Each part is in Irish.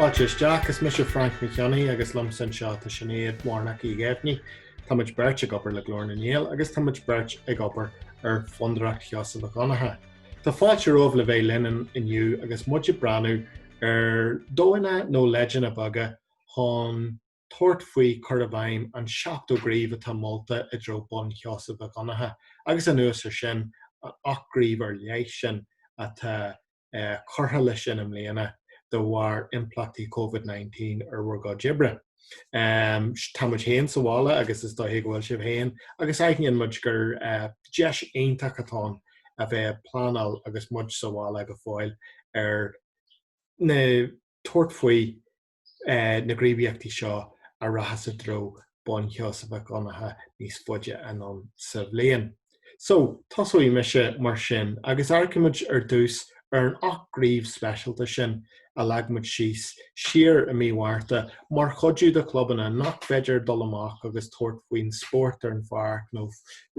Fáilte isteach, is mise Frainc Mac Cionnaith agus liomsa anseo tá Sinéad Warnock Uí Ghéibheannaigh. Tá muid beirt ag obair le Glór na nGael agus tá muid beirt ag obair ar Fondúireacht Sheosaimh Mhic Dhonncha. Tá fáilte romhaibh le bheith linn inniu agus muid ag breathnú ar dhóigheanna nó leideanna beaga chun tabhairt faoi chur i bhfeidhm an seachtó gníomh atá molta i dtreo bonn Sheosaimh Mhic Dhonncha agus anuas ar sin an ocht gníomh ar leith sin atá curtha leis sin i mbliana de bharr impleachtaí Covid 19 ar bhur gcuid oibre. Tá muid féin sa bhaile agus is dóiche go bhfuil sibh féin agus aithníonn muid gur deis iontach atá ann a bheith ag pleanáil agus muid sa bhaile go fóill ar na tabhairt faoi na gníomhaíochtaí seo a rachas i dtreo bonn Sheosaimh Mhic Dhonncha níos faide anonn sa bhliain. So, tosóidh mise mar sin agus amharcfaimid ar dtús ar an ocht gníomh speisialta sin a leag muid síos siar i mí Mhárta mar chuidiú do chlubanna nach bhféidir dul amach agus tabhairt faoin spórt ar an pháirc nó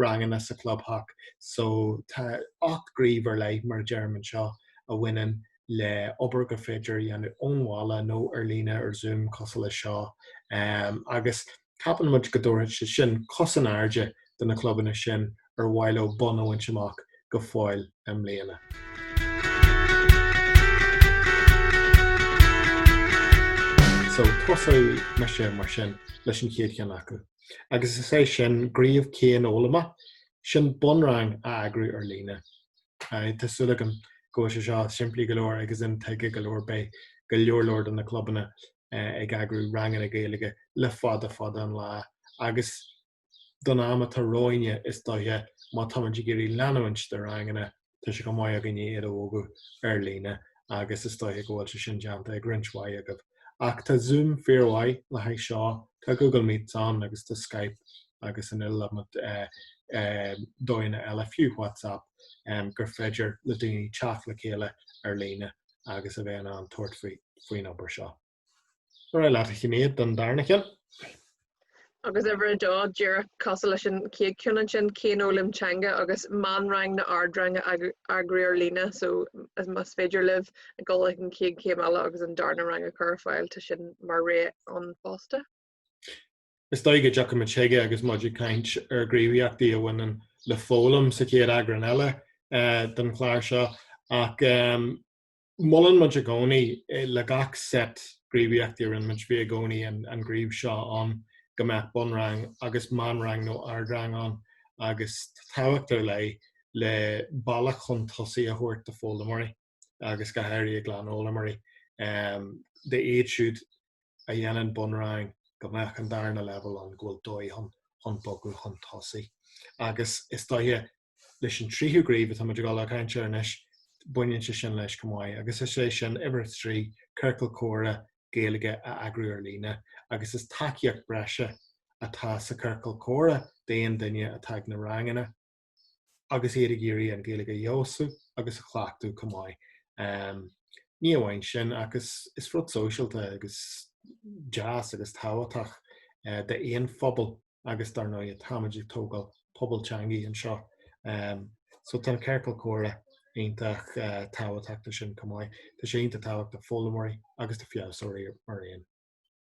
ranganna sa chlubtheach. So, tá ocht gníomh ar leith, mar a deirim anseo, a bhaineann le obair gur féidir a dhéanamh ón bhaile nó ar líne ar Zoom cosúil leis seo agus ceapann muid go dtabharfaidh sé sin cos in airde do na clubanna sin ar mhaith leo bonn a bhaint amach go fóill i mbliana. So tosóidh mise mar sin leis an chéad cheann acu agus is é sin gníomh cianfhoghlama, sin bunrang a eagrú ar líne. Tá súil agam go bhfuil sé seo simplí go leor agus intuigthe go leor beidh go leor leor de na clubanna ag eagrú ranganna Gaeilge le fada fada an lá agus don am atá romhainne is dóiche má tá muid ag iarraidh leanúint de ranganna tá sé chomh maith againne iad a bhogadh ar líne agus is dóiche go bhfuil sé sin déanta ag roinnt mhaith agaibh. ach tá Zoom fíor mhaith le haghaidh seo, tá Google Meets ann agus tá Skype agus an iliomad dóigheanna eile fiú WhatsApp gur féidir le daoine teacht le chéile ar líne agus a bheith in ann tabhairt faoin obair seo. Ar aghaidh leat a Shinéad don darna cheann. agus uimhir a dó díreach cosúil leis an chéad ceann ansin, cianfhoghlaim teanga agus meánrang nó ardrang a eagrú ar líne so más féidir libh a ghabháil ag an chéad chéim eile agus an darna rang a chur ar fáil tá sin mar rogha ann fosta. Is dóigh go dtiocfaidh muid chuige agus muid ag caint ar ghníomhaíochtaí a bhaineann le foghlaim sa chéad eagrán eile den chlár seo ach Molann muid i gcónaí le gach set gníomhaíochtaí a rinne muid, bhí i gcónaí an gníomh seo ann go mbeadh bunrang agus meánrang nó ardrang ann agus tábhacht ar leith le bealach chun tosaigh a thabhairt d'fhoghlaimeoirí agus go háirithe glanfhoghlaimeoirí. Dóibh siúd a dhéanann bunrang go mbeadh an darna leibhéal ann go bhfuil dóigh ann chun bogadh chun tosaigh agus is dóiche leis an tríú gníomh atá muid ag dul a chaint air anois, baineann sé sin leis chomh maith agus is é sin uimhir a trí, ciorcal comhrá Gaeilge a eagrú ar líne agus is tacaíocht breise atá sa chiorcal comhrá d'aon duine atá ag na ranganna. agus iad ag iarraidh an Ghaeilge a fheabhsú agus a chleachtadh chomh maith. Um, ní amháin sin ach is, is rud sóisialta agus deas agus tábhachtach uh, d'aon phobal agus dar ndóigh táimid ag tógáil pobal teanga anseo. Um, so tá na ciorcail chomhrá iontach uh, eh, tábhachtach ansin chomh maith. Tá sé iontach tábhachtach d'fhoghlaimeoirí agus d'fheabhsóirí araon.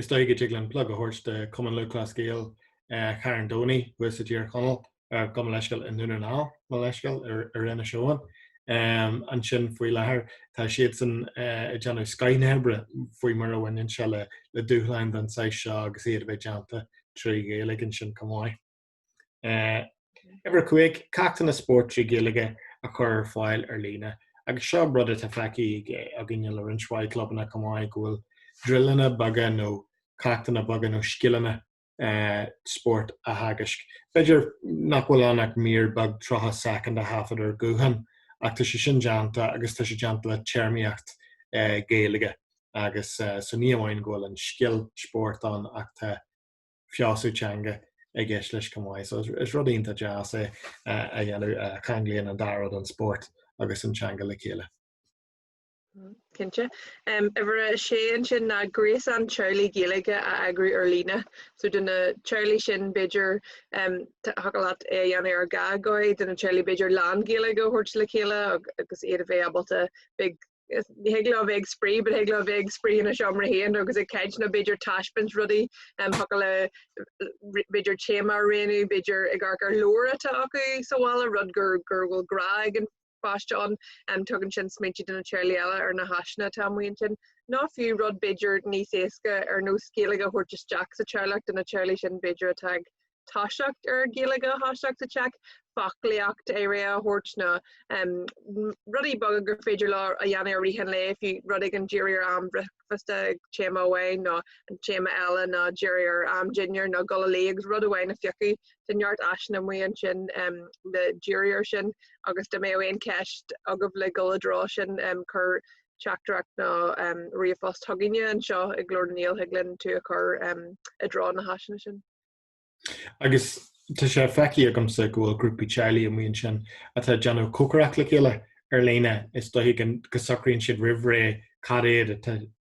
Is dóigh go dtig liom plug a thabhairt do Chumann Lúthchleas Gael Charn Domhnaigh thuas i dTír Chonaill ar gabh mo leithscéal i nDún na nGall, gabh mo leithscéal ar Inis Eoghain. Ansin faoi láthair tá siadsan ag déanamh an-chuid oibre faoi mar a bhaineann sé le dúshláin den saghas seo agus iad a bheith déanta trí Ghaeilge ansin chomh maith. Uimhir a cúig, Ceachtanna spóirt trí Ghaeilge a chur ar fáil ar líne, agus seo rud atá feicthe againne le roinnt mhaith clubanna chomh maith go bhfuil druileanna beaga nó ceachtanna beaga nó scileanna spóirt a theagasc. B'fhéidir nach bhfuil ann ach mír beag tríocha soicind a thaifead ar ghuthán, ach tá sé sin déanta agus tá sé déanta le téarmaíocht Gaeilge agus so ní amháin go bhfuil an scil spóirt ann ach tá feabhsú teanga i gceist leis chomh maith. So is rud iontach deas é a dhéanamh, ceanglaíonn an dá rud, an spórt agus an teanga, le chéile. Cinnte. Uimhir a sé ansin ná gréasán teaghlaigh Gaeilge a eagrú ar líne. So do na teaghlaigh sin b'fhéidir thiocfadh leat é a dhéanamh ar dhá dhóigh, do na teaghlaigh b'fhéidir lán-Ghaeilge a thabhairt le chéile agus iad a bheith ábalta, beidh ní thig leo bheith ag spraoi, but thig leo bheith ag spraoi ina seomra féin agus ag caint nó b'fhéidir taispeáint rudaí um thiocfadh le b'fhéidir téama a roghnú, b'fhéidir ag amharc ar leabhair atá acu sa bhaile, rud gur gur bhfuil grá ag an pháiste ann. Um tugann sin smaointe do na teaghlaigh eile ar na háiseanna atá amuigh ansin. Nó fiú rud b'fhéidir níos éasca ar nós Gaeilge a thabhairt isteach sa teaghlach do na teaghlaigh sin b'fhéidir atá ag toiseacht ar Ghaeilge, toiseacht sa teach, foclaíocht ar ais a thabhairt nó rudaí beaga gur féidir leo a dhéanamh i rith an lae, fiú rud éigin díriú ar am bricfeasta ag téama amháin nó an téama eile nó díriú ar am dinnéir nó gul a luí agus rud amháin a phiocadh tá neart áiseanna amuigh ansin le díriú air sin agus dá mbeadh aon cheist agaibh le dhul i dtreo sin cuir teachtaireacht nó ríomhphost chugainne anseo ag Glór na nGael thig linn tú a chur i dtreo na háiseanna sin. Agus tá sé feicthe agamsa go bhfuil grúpaí teaghlaigh amuigh ansin atá ag déanamh cócaireacht le chéile ar líne, is dóiche go socraíonn siad roimh ré cad iad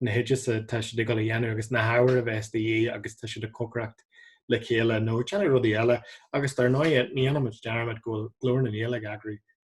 na hoidis atá siad ag dul a dhéanamh agus na hábhair a bheas de dhíth agus tá siad ag cócaireacht le chéile nó ag déanamh rudaí eile agus dar ndóigh ní dhéanaimid dearmad go bhfuil Glór na nGael ag eagrú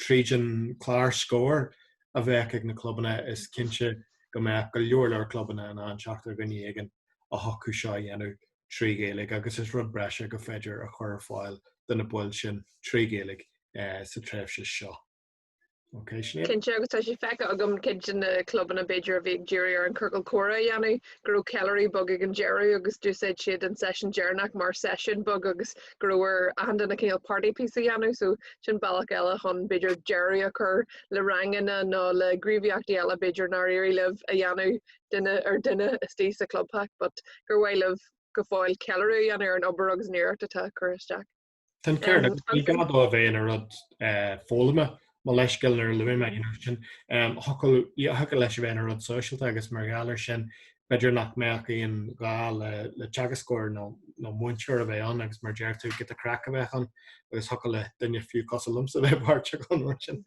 Tríd an teagascóir a bheadh ag na clubanna is cinnte go mbeadh go leor leor clubanna in ann teacht ar dhuine éigin a thiocfadh seo a dhéanamh trí Ghaeilge agus is rud breise gur féidir a chur ar fáil do na baill sin trí Ghaeilge sa tréimhse seo. Ok Sinéad? Cinnte agus tá sé feicthe agam cuid de na clubanna b'fhéidir a bhí ag díriú ar an chiorcal comhrá a dhéanamh go raibh ceiliúradh beag ag an deireadh agus d'úsáid siad an seisiún deireanach mar seisiún beag agus ceart go raibh ar achan duine cineál party piece a dhéanamh so sin bealach eile chun b'fhéidir deireadh a chur le ranganna nó le gníomhaíochtaí eile b'fhéidir nár éirigh libh a dhéanamh duine ar dhuine istigh sa clubtheach but gur mhaith libh go fóill ceiliúradh a dhéanamh ar an obair agus an iarracht atá curtha isteach. Tá an ceart agat ní gá dó a bheith ina rud foghlama mo leithscéal nuair a luaigh mé an focal sin, thiocfadh leis a bheith ina rud sóisialta agus mar gheall air sin b'fhéidir nach mbeadh aon ghá le teagascóir nó múinteoir a bheith ann agus mar a deir tú giota craic a bheadh ann agus thiocfadh le duine fiú cosúil liomsa a bheith páirteach ann mar sin.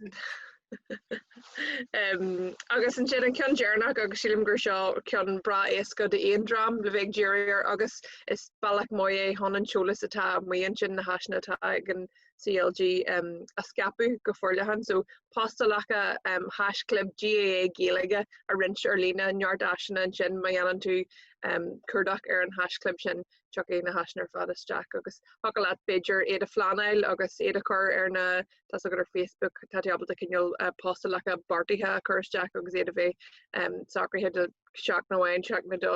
Agus ansin an ceann deireanach agus sílim gur seo ceann breá éasca d'aon dream le bheith ag díriú air agus is bealach maith é chun an t-eolas atá amuigh ansin, na háiseanna atá ag an CLG um, a scaipeadh go forleathan. So, postálacha um, haischlib GAA Gaeilge a roinnt ar líne, neart áiseanna ansin má dhéanann tú um, cuardach ar an haischlib sin, tiocfaidh na háiseanna ar fad isteach agus thiocfadh leat b'fhéidir iad a phleanáil agus iad a chur ar na tá a fhios agat ar Facebook tá tábalta cineál uh, postálacha beartaithe a chur isteach agus iad a bheith um, socraithe seachtain nó aon seachtain nó dó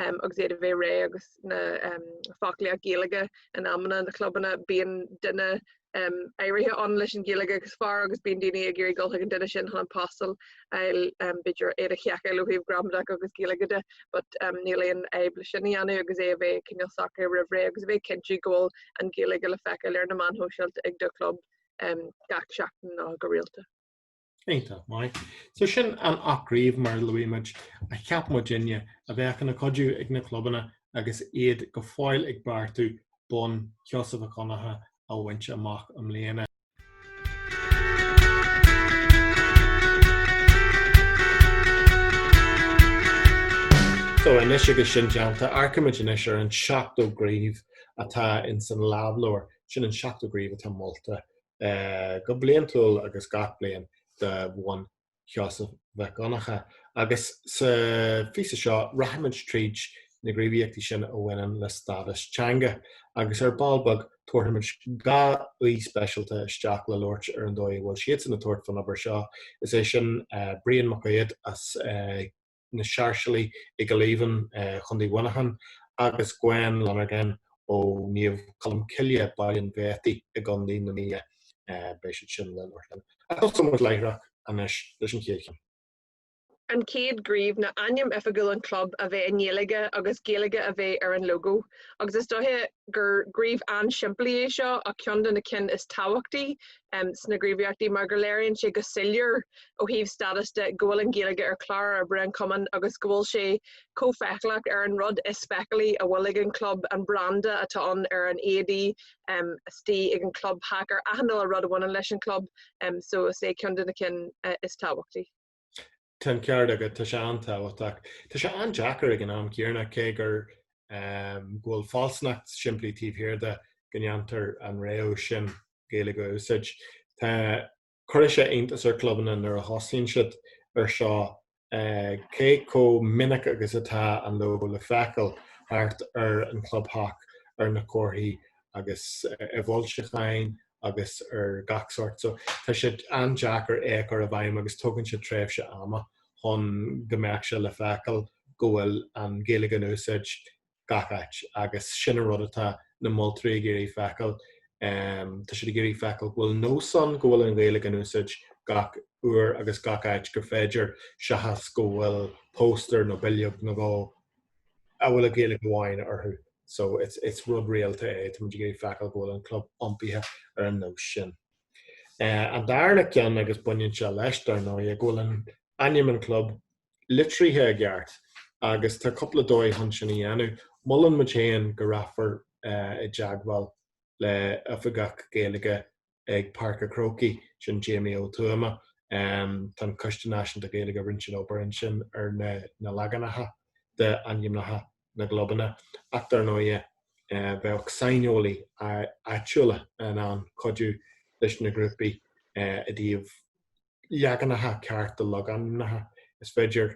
agus iad a bheith réidh agus na foclaíocht Ghaeilge in amanna na clubanna bíonn duine áirithe ann leis an Ghaeilge is fearr agus bíonn daoine ag iarraidh dul chuig an duine sin chun na postálacha b'fhéidir iad a sheiceáil ó thaobh gramadach agus Gaeilge de but níl aon fhadhb le sin a dhéanamh agus é a bheith cineál socair roimh ré agus a bheith ag cinntiú go bhfuil an Ghaeilge le feiceáil ar na meáin shóisialta ag do chlub gach seachtain nó go rialta. Ínta mai. So sin an ocht gcraobh mar a luaigh muid a cheap muidinne a bheadh ina cuidiú ag na clubanna agus iad go fóill ag beartú bonn Sheosaimh Mhic Dhonncha a bhaint amach i mbliana. So anois agus sin déanta amharcaimid anois ar an seachtó gníomh atá ins an lámhleabhar. Sin an seachtó gníomh atá molta eh, go bliantúil agus gach bliain de bhonn Sheosaimh Mhic Dhonncha. Agus sa phíosa seo rachaimid tríd na gníomhaíochtaí sin a bhaineann le stádas teanga agus ar ball beag tabharfaimid dhá aoi speisialta isteach le labhairt ar an dóigh a bhfuil siadsan ag tabhairt faoin obair seo, is é sin eh, Brian Mac Aodha as eh, na Sáirséalaigh i gCill Aoibhinn, Co. Mhuineacháin, agus Gwen Lonergan ó Naomh Colm Cille, Baile an Bhriotaigh i gContae na Mí. Beidh siad sin linn mar sin. Tosóidh muid láithreach anois leis an chéad cheann. An chéad ghníomh ná ainm oifigiúil an chlub a bheith i nGaeilge agus Gaeilge a bheith ar an lógó agus is dócha gur gníomh an-simplí é seo ach ceann de na cinn is tábhachtaí sna gníomhaíochtaí mar go léiríonn sé go soiléir ó thaobh stádas de go bhfuil an Ghaeilge ar chlár oibre an chumainn agus go bhfuil sé chomh feiceálach ar an rud is feiceálaí a bhfuil ag an gclub, an branda atá ann ar na héadaí atá ag an gclub. ar achan uile rud a bhaineann leis an gclub so is é ceann de na cinn is tábhachtaí. Tá an ceart agat, tá sé an-tábhachtach. Tá sé an-deacair ag an am céanna cé gur um, go bhfuil fealsúnacht simplí taobh thiar de go ndéantar an rogha sin Gaeilge a úsáid. Tá cuireann sé iontas ar clubanna nuair a thosaíonn siad ar seo uh, cé chomh minic agus atá an logo le feiceáil thart ar an chlubtheach ar na comharthaí agus uh, i bhfoilseacháin agus ar gach sórt so tá siad an-deacair a chur i bhfeidhm agus tógann sé tréimhse ama chun go mbeadh sé le feiceáil go bhfuil an Ghaeilge in úsáid gach áit agus sin an rud atá na moltóirí ag iarraidh feiceáil. Tá siad ag iarraidh feiceáil go bhfuil nós ann go bhfuil an Ghaeilge in úsáid gach uair agus gach áit gur féidir seachas go bhfuil póstaer nó bileog nó dhó a bhfuil a Gaeilge amháin orthu so it's rud rialta é tá muid ag iarraidh feiceáil go bhfuil an club iompaithe ar an nós sin. Eh, an darna ceann agus baineann sé leis dar ndóighe go bhfuil an ainm an club litrithe i gceart agus tá cúpla dóigh chun sin a dhéanamh. Molann muid féin go rachfar eh, i dteagmháil le oifigeach Gaeilge ag Páirc a' Chrócaigh, sin Jamie Ó Tuama. Tá an Coiste Náisiúnta Gaeilge a rinne an obair ansin ar na leaganacha d'ainmneacha na gclubanna ach dar ndóighe bheadh saineolaithe áitiúla in ann cuidiú le grúpaí i dtaobh leaganacha cearta de logainmneacha. Is féidir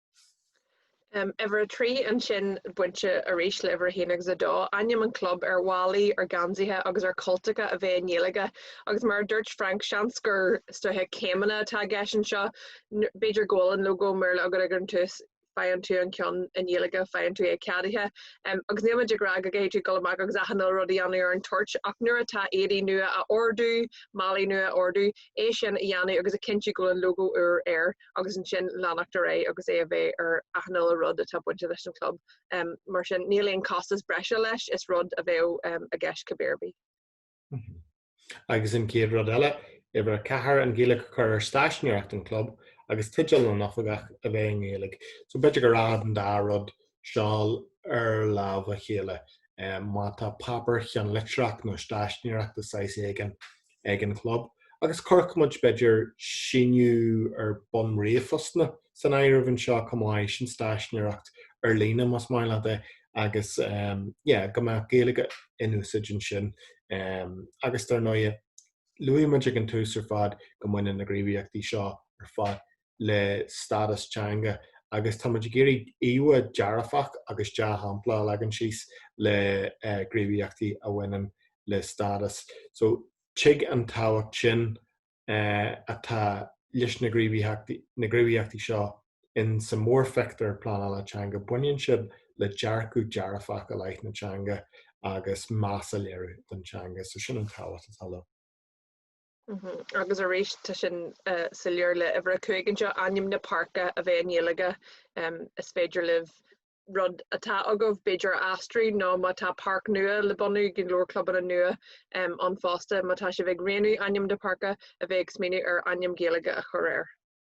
Uimhir a trí ansin bainte arís le uimhir a haon agus a dó, ainm an chlub ar mhálaí, ar gheansaithe agus ar chultacha a bheidh i nGaeilge. Agus mar a dúirt Frank, seans gur sraith céimeanna atá i gceist anseo, b'fhéidir go bhfuil an lógó i mBéarla agat ag an tús, faigheann tú an ceann i nGaeilge, faigheann tú é ceadaithe. Agus níl muid ag rá go gcaithfidh tú dul amach agus achan uile rud a dhéanamh ar an toirt, ach nuair atá éadaí nua á n-ordú, málaí nua á n-ordú, é sin a dhéanamh agus a chinntiú go bhfuil an lógó úr air. agus ansin leanacht ar aghaidh agus é a bheith ar achan uile rud atá bainte leis an club. Um, mar sin, níl aon costas breise leis, is rud a bheadh um, i gceist cibé ar bith. Mm -hmm. Agus an céad rud eile, uimhir a ceathair an Ghaeilge a chur ar stáiseanóireacht an chlub agus teideal na n-oifigeach a bheith i nGaeilge. So b'fhéidir go rachadh an dá rud seo lámh ar lámh le chéile. Um, má tá páipéar ceannlitreach nó stáiseanóireacht de shaghas éigin ag an gclub agus chuirfeadh muid b'fhéidir síniú ar bhun ríomhphostanna san áireamh anseo chomh maith, sin stáiseanóireacht ar líne más maith leat é agus yeah go mbeadh Gaeilge in úsáid ansin agus dar ndóighe luaigh muid ag an tús ar fad go mbaineann na gníomhaíochtaí seo ar fad le stádas teanga agus táimid ag iarraidh íomhá dhearfach agus dea-shampla a leagan síos le gníomhaíochtaí a bhaineann le stádas. So tuig an tábhacht sin atá leis na gníomhaíochtaí seo in sa mórphictiúr pleanála teanga, baineann siad le dearcadh dearfach i leith na teanga agus meas a léiriú don teanga. So sin an tábhacht atá leo. Agus arís, tá sin soiléir. Uimhir 5 anseo, ainm na páirce a bheith i nGaeilge. Is féidir libh rud atá agaibh b'fhéidir a aistriú nó má tá páirc nua le bunú go leor clubanna nua ann fosta má tá sibh ag roghnú ainm na páirce a bheith ag smaoineamh ar ainm Gaeilge a chur air.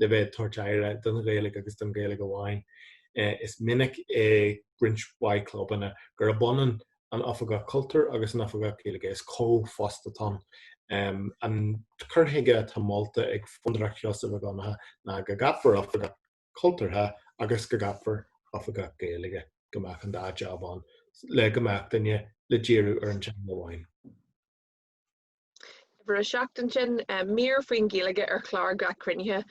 le bheith ag tabhairt aire don Ghaeilge agus don Ghaeilge amháin. Is minic i roinnt mhaith clubanna gurb ionann an tOifigeach Cultúir agus an tOifigeach Gaeilge, is comhphost atá ann. An cur chuige atá molta ag Fondúireacht Sheosaimh Mhic Dhonncha ná go gceapfar Oifigeach Cultúrtha agus go gceapfar Oifigeach Gaeilge, go mbeadh an dá jab ann le go mbeadh duine le díriú ar an teanga amháin. Uimhir a seacht ansin, mír faoin Ghaeilge ar chlár gach cruinnithe.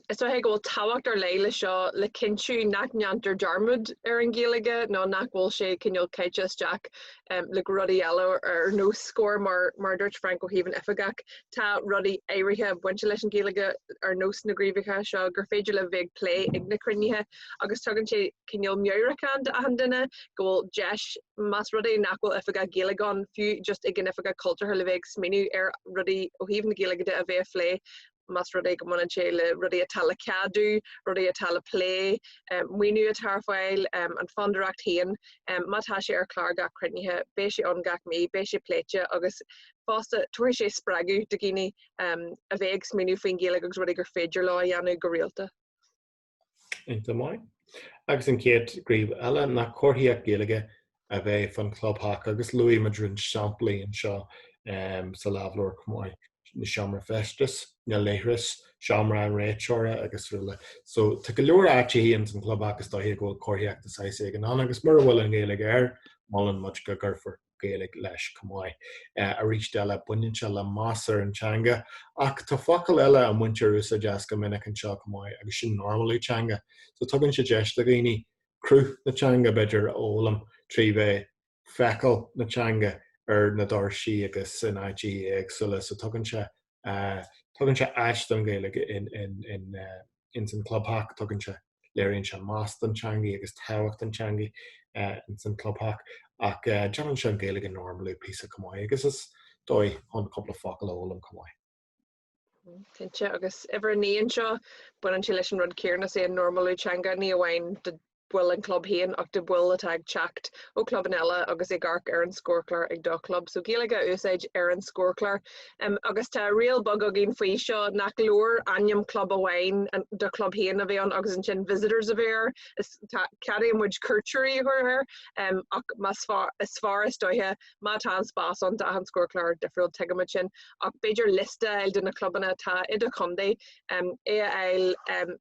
Is dócha go bhfuil tábhacht ar leith leis seo le cinntiú nach ndéantar dearmad ar an Ghaeilge nó nach bhfuil sé cineál caite isteach le rudaí eile ar nós Scór mar mar dúirt Frainc ó thaobh an oifigeach tá rudaí áirithe bainte leis an Ghaeilge ar nós na gníomhacha seo gur féidir le bheith plé ag na cruinnithe agus tugann sé cineál meabhrachán d'achan duine go bhfuil deis, más rud é nach bhfuil oifigeach Gaeilge ann, fiú just ag an oifigeach cultúrtha le bheith ag smaoineamh ar rudaí ó thaobh na Gaeilge de a bheith a phlé, más rud é go mbaineann sé le rudaí atá le ceadú, rudaí atá le plé, maoiniú atá ar fáil, an Fondúireacht féin, má tá sé ar chlár gach cruinnithe, beidh sé ann gach mí, beidh sé pléite agus fosta tabharfaidh sé spreagadh do dhaoine a bheith ag smaoineamh faoin Ghaeilge agus rudaí gur féidir leo a dhéanamh go rialta. Iontach maith. Agus an chéad ghníomh eile nach comharthaíocht Gaeilge a bheith fán clubtheach agus luaigh muid roinnt samplaí anseo um, sa lámhleabhar chomh maith na seomra feistis, na leithris, seomra an réiteora agus araile. So tá go leor áiteachaí ins an clubtheach is dóiche go bhfuil comharthaíocht de shaghas éigin ann agus mura bhfuil an Gaeilge air, molann muid go gcuirfear Gaeilge leis chomh maith. Arís eile, baineann sé le meas ar an teanga, ach tá focail eile a mbaintear úsáid as go minic anseo chomh maith agus sin normalú teanga. So tugann sé deis do dhaoine cruth na teanga, b'fhéidir, a fhoghlaim trí bheith ag feiceáil na teanga ar na doirsí agus in áiteachaí éagsúla. So tugann sé tugann sé áis don Ghaeilge in san clubtheach, tugann sé, léiríonn sé meas don teangaidh agus tábhacht an teangaidh in san clubtheach ach déanann sé an Ghaeilge a normalú píosa chomh maith agus is dóigh chun cúpla focal a fhoghlaim chomh maith. Cinnte, agus uimhir a naoi anseo, baineann sé leis an rud céarna, is é an normalú teanga, ní amháin baill an chlub féin ach do bhaill atá ag teacht ó chlubanna eile agus ag amharc ar an scórchlár ag do chlub. So Gaeilge a úsáid ar an scórchlár. Agus tá riail beag againn faoi seo nach leor ainm club amháin do chlub féin a bheith ann agus ansin visitors a bheith air. Ceadaíonn muid cuairteoirí a chur air ach is fearr is dóiche Má tá an spás ann, tá achan scórchlár difriúil, tuigimid sin, ach b'fhéidir liosta a fháil de na clubanna atá i do chontae, é a fháil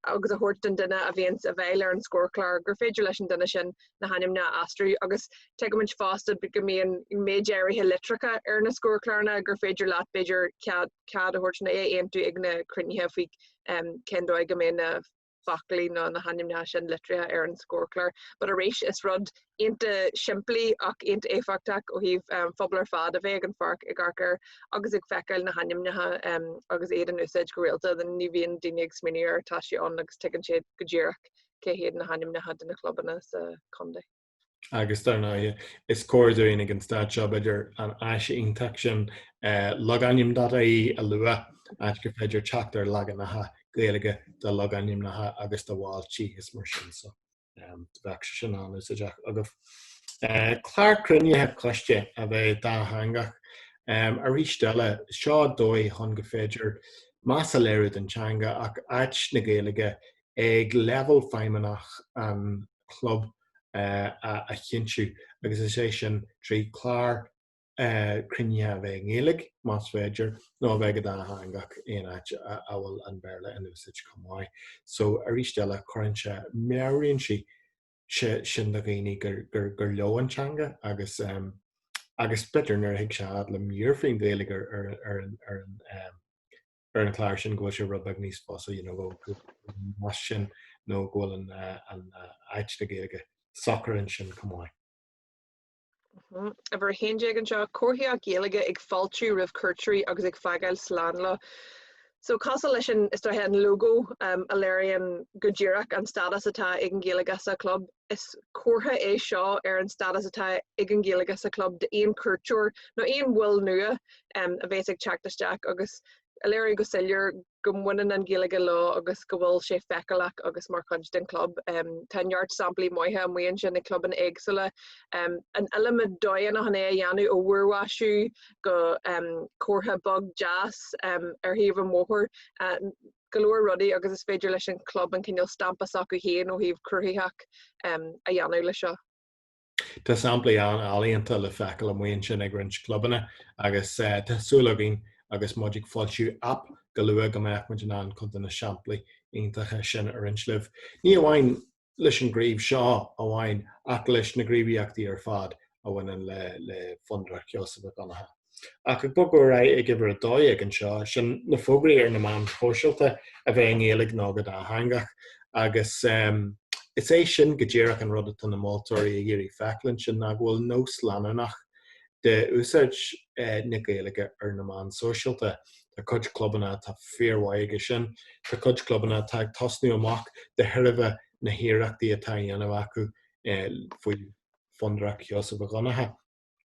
agus a thabhairt don duine a bhíonns i bhfeighil ar an scórchlár gur féidir leis an duine sin na hainmneacha a aistriú. Agus tuigimid fosta go mbíonn méid áirithe litreacha ar na scórchláranna gur féidir leat, b'fhéidir, cead a thabhairt nó é a aontú ag na cruinnithe faoi cén dóigh a mbeidh na foclaí nó na hainmneacha sin litrithe ar an scórchlár. But arís, is rud iontach simplí ach iontach éifeachtach ó thaobh um, phobal ar fad a bheith ag an pháirc ag amharc air agus ag feiceáil na hainmneacha um, agus iad in úsáid go rialta. Ní bhíonn daoine ag smaoineamh air, tá sé ann agus tuigeann siad go díreach cé hiad na hainmneacha de na clubanna sa chontae. agus dar ndóigh is cóir dúinn ag an staid seo b'fhéidir an áis iontach sin eh, logainm.ie a lua áit gur féidir teacht ar leaganacha Gaeilge de logainmneacha agus de bhailte is mar sin so em, bheadh sé sin an-úsáideach agaibh. Eh, Clár cruinnithe coiste a bheith dátheangach em, arís eile seo dóigh chun go féidir meas a léiriú don teanga ach áit na Gaeilge ag leibhéal feidhmeannach an chlub a chinntiú agus is é sin trí chlár cruinnithe a bheith i nGaeilge, más féidir, nó a bheith go dátheangach aon áit a bhfuil an Béarla in úsáid chomh maith. So arís eile cuireann sé, meabhraíonn sé sin do dhaoine gur leo an teanga agus agus b'fhéidir nuair a thig sé fhad le mír faoin Ghaeilge ar an ar an chlár sin go bhfuil sé rud beag níos fusa you know, go más sin nó go bhfuil an, uh, an uh, áit na Gaeilge socair ansin chomh maith. Uimhir 11 anseo, comharthaíocht Ghaeilge ag fáiltiú roimh chuairteoirí agus ag fágáil slán leo. So cosúil leis an, is dóiche, an logo um, a léiríonn go díreach an stádas atá ag an Ghaeilge sa club, is comhartha é seo ar an stádas atá ag an Ghaeilge sa club d'aon cuairteoir nó aon bhaill nua a bheas ag teacht isteach agus a léiriú go soiléir go mbaineann an Ghaeilge leo agus go bhfuil sé feiceálach agus mar chuid den chlub. Tá neart samplaí maithe amuigh ansin ag clubanna éagsúla. An iliomad dóigheanna chun é a dhéanamh, ó mhúrmhaisiú go comhartha beag deas ar thaobh an bhóthair, go leor rudaí agus is féidir leis an chlub an cineál stampa s'acu féin ó thaobh cruthaitheach a dhéanamh leis seo. Tá samplaí an-ealaíonta le feiceáil amuigh ansin ag roinnt clubanna agus tá súil againn agus muid ag foilsiú aip go luath go mbeadh muid in ann cuid de na samplaí iontacha sin a roinnt libh, ní amháin leis an ghníomh seo amháin ach leis na gníomhaíochtaí ar fad a bhaineann le Fondúireacht Sheosaimh Mhic Dhonncha. Ach ag bogadh ar aghaidh ag uimhir 12 anseo, sin na fógraí ar na meáin shóisialta, a bheith i nGaeilge nó go dátheangach agus is é sin go díreach an rud atá na moltóirí ag iarraidh feiceáil ansin, ná go bhfuil nós leanúnach d'úsáid na Gaeilge ar na meáin shóisialta. Tá cuid clubanna atá fíormhaith aige sin, tá cuid clubanna atá ag tosnú amach de thairbhe na hiarrachtaí atá á dhéanamh acu faoi Fondúireacht Sheosaimh Mhic Dhonncha.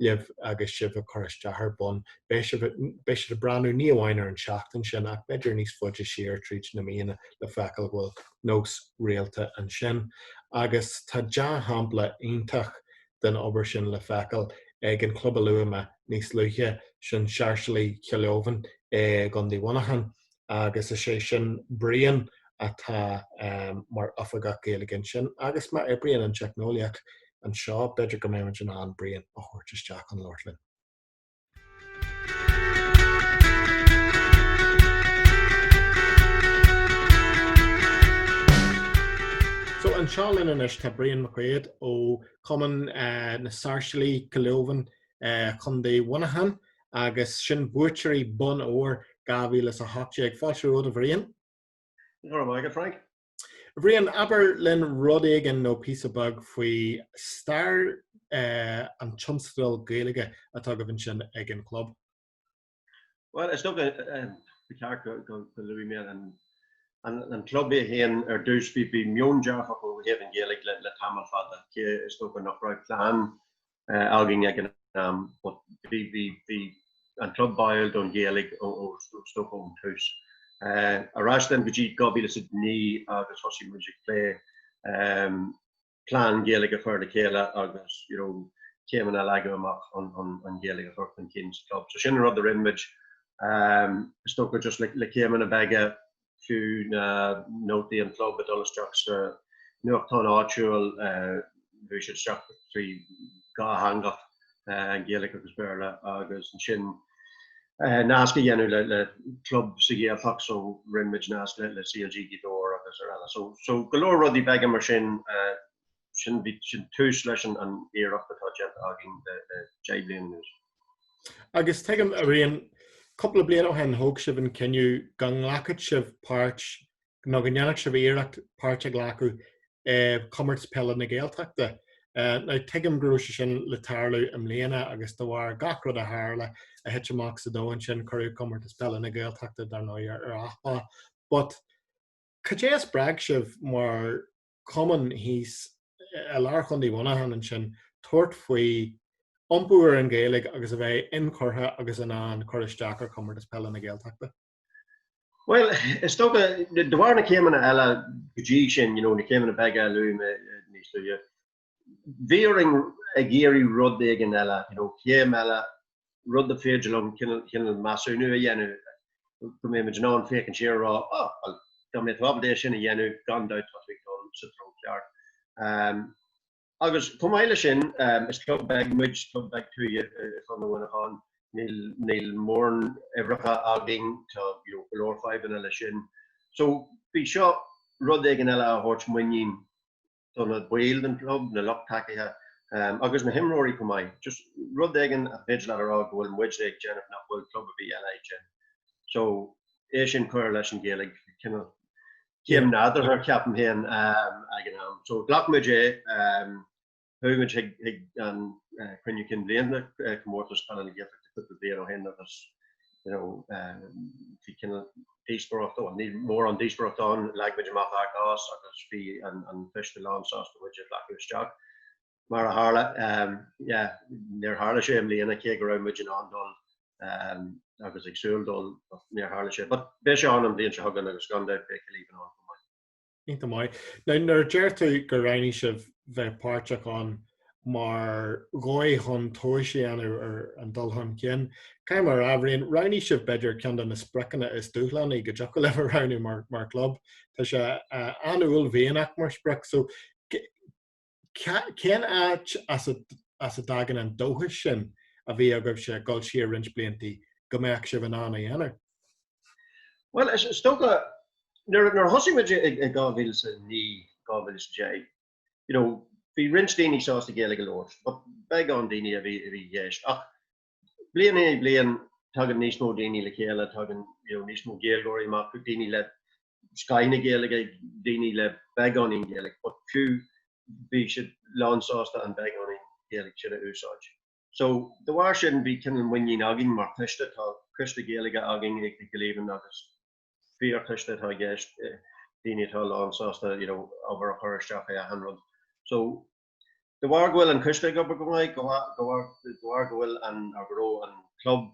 libh agus sibh ag cur isteach ar bhonn. Beidh sibh beidh siad ag breathnú ní amháin ar an tseachtain sin ach b'fhéidir níos faide siar tríd na míonna le feiceáil go bhfuil nós rialta ansin. Agus tá dea-shampla iontach den obair sin le feiceáil ag an chlub a luaigh mé níos luaithe, sin Sáirséalaigh Chill Laobháin i gContae Mhuineacháin. agus is é sin Brian atá mar Oifigeach Gaeilge ansin agus má oibríonn an teicneolaíocht anseo, b'fhéidir go mbeimid in ann Brian a thabhairt isteach chun labhairt linn. So anseo linn anois tá Brian McQuaid ó Chumann eh, na Sáirséalaigh Gaeil Triúcha eh, Contae Mhuineacháin agus sin buaiteoirí Bonn Óir 2018. Fáilte romhat, a Bhriain. Go raibh maith agat, Frank. A Bhriain, abair linn rud éigin nó píosa beag faoi stair eh, an tionscadail Gaeilge atá agaibh ansin ag an chlub. Bhuel, is dócha eh, eh, go ceart go, go, go luaigh mé an, an, an club é féin ar dtús. Bhí, bhí meon dearfach ó thaobh an Ghaeilge le, le tamall fada. Cé is dócha nach raibh plean againn ag an am but bhí an club báúil don Ghaeilge is dócha ón tús. Ar ais linn go dtí 2009 agus thosaigh muid ag plé plean Gaeilge a chur le chéile agus you know céimeanna a leagadh amach chun an Ghaeilge a chur chun cinn sa chlub. So sin an rud a rinne muid, is dócha just le céimeanna beaga fiú na nótaí an chlub ag dul isteach sna nuachtáin áitiúil, bhí siad isteach trí dhá theanga, Gaeilge agus Béarla, agus ansin nasc a dhéanamh le le club sa Ghaeltacht, so rinne muid nasc le CLG Ghaoth Dobhair agus araile, so so go leor rudaí beaga mar sin. sin bhí sin tús leis an an iarracht atá déanta againn le le deich bliain anuas. Agus tuigim a Bhriain cúpla bliain ó shin thóg sibh an cinneadh go nglacfadh sibh páirt nó go ndéanfadh sibh iarracht páirt a ghlacadh i gComórtas Peile na Gaeltachta. Now tuigim go raibh sé sin le tarlú i mbliana agus de bharr gach rud a tharla a thit amach sa domhan sin cuireadh Comórtas Peile na Gaeltachta dar ndóigh ar athlá. But cad é a spreag sibh mar cumann thíos i lár Chontae Mhuineacháin ansin tabhairt faoi iompú ar an Ghaeilge agus a bheith inchurtha agus in ann cur isteach ar Chomórtas Peile na Gaeltachta? Bhuel, is dócha, de bharr na céimeanna eile go dtí sin, you know, na céimeanna beaga a luaigh mé níos luaithe, bhíomar ag iarraidh rud éigin eile, you know céim eile, rud is féidir linn cineál, cineál measúnú a dhéanamh go mbeidh muid in ann féachaint siar is a rá 'Á, bhuel, dá mbeadh tú ábalta é sin a dhéanamh, gan dabht tá muid ag dul sa treo ceart. Um, agus chomh maith leis sin, um, is club beag muid, club beag tuaithe i i gContae Mhuineacháin, níl, níl mórán uimhreacha againn, tá you know, go leor fadhbanna leis sin. So bhí seo rud éigin eile a thabhairt muinín do na baill den chlub, na lucht tacaithe agus na himreoirí chomh maith. Just rud éigin a thig leat a rá go bhfuil muid ag déanamh nach bhfuil club ar bith eile ag déanamh. So é sin cuir leis an Ghaeilge cineál céim nádúrtha ceapaim féin ag an am. So ghlac muid é, chuaigh muid chuig an cruinniú cinn bhliana, Comórtas Peile na Gaeltachta cúpla bliain ó shin agus you know bhí cineál díospóireacht ann ní mórán díospóireacht ann leag muid amach ár gcás agus bhí an an coiste lán sásta muid a ghlacadh isteach mar a tharla um, yeah, níor tharla sé i mbliana cé go raibh muid in ann dul um, agus ag súil dul níor tharla sé but beidh sé ann an bhliain seo chugainn agus gan dabht beidh Cill Laobháin ann Iontach maith. Now nuair deir tú gur roghnaigh sibh bheith páirteach ann mar dhóigh chun tomhais a dhéanamh ar an dul chun cinn. Caithfidh mé a rá, a Bhriain, roghnaigh sibh b'fhéidir ceann de na spriocanna is dúshlánaí go dtiocfadh libh a roghnú mar, mar chlub. Tá sé an-uaillmhianach mar sprioc. So Cén áit as a dtagann an dóchas sin a bhí agaibhse ag dul siar roinnt blianta go mbeadh sibh in ann a dhéanamh? Bhuel, is dócha, nuair a thosaigh muid i 2009, 2010, you know, bhí roinnt daoine sásta Gaeilge a labhairt, but beagán daoine a bhí i gceist, ach Bliain ar bhliain tagann níos mó daoine le chéile, tagann níos mó Gaeilgeoirí amach, daoine le scoth na Gaeilge, daoine le beagáinín Gaeilge, but fiú bhí siad lán sásta an beagáinín Ghaeilge sin a úsáid. So, de bharr sin bhí cineál muinín againn mar choiste, tá coiste Gaeilge againn i gCill Laobháin agus fíorchoiste atá i gceist, daoine atá lán sásta, you know, obair a chur isteach i achan rud. So, De bharr go bhfuil an coiste ag obair go maith, de bharr go bhfuil an, nó go raibh an club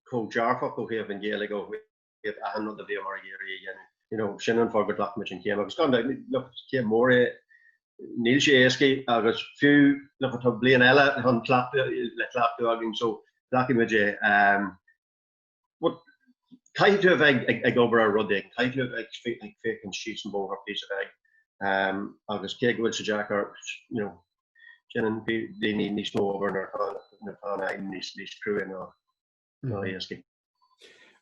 chomh dearfach ó thaobh an Ghaeilge, ó thaobh achan rud a bhíomar ag iarraidh a dhéanamh, you know, sin an fáth gur ghlac muid an chéim. Agus gan dabht, look, céim mhór é, níl sé éascaidh agus fiú, look, tá bliain eile chun cleachtadh, le cleachtadh againn, so, glacfaimid é. Caithfidh tú a bheith ag obair ar rud éigin, caithfidh tú a bheith ag féachaint síos an bóthar píosa beag agus cé go bhfuil sé deacair, you know, déanann daoine níos mó obair nuair atá an aidhm níos cruaidhe ná éascaidh.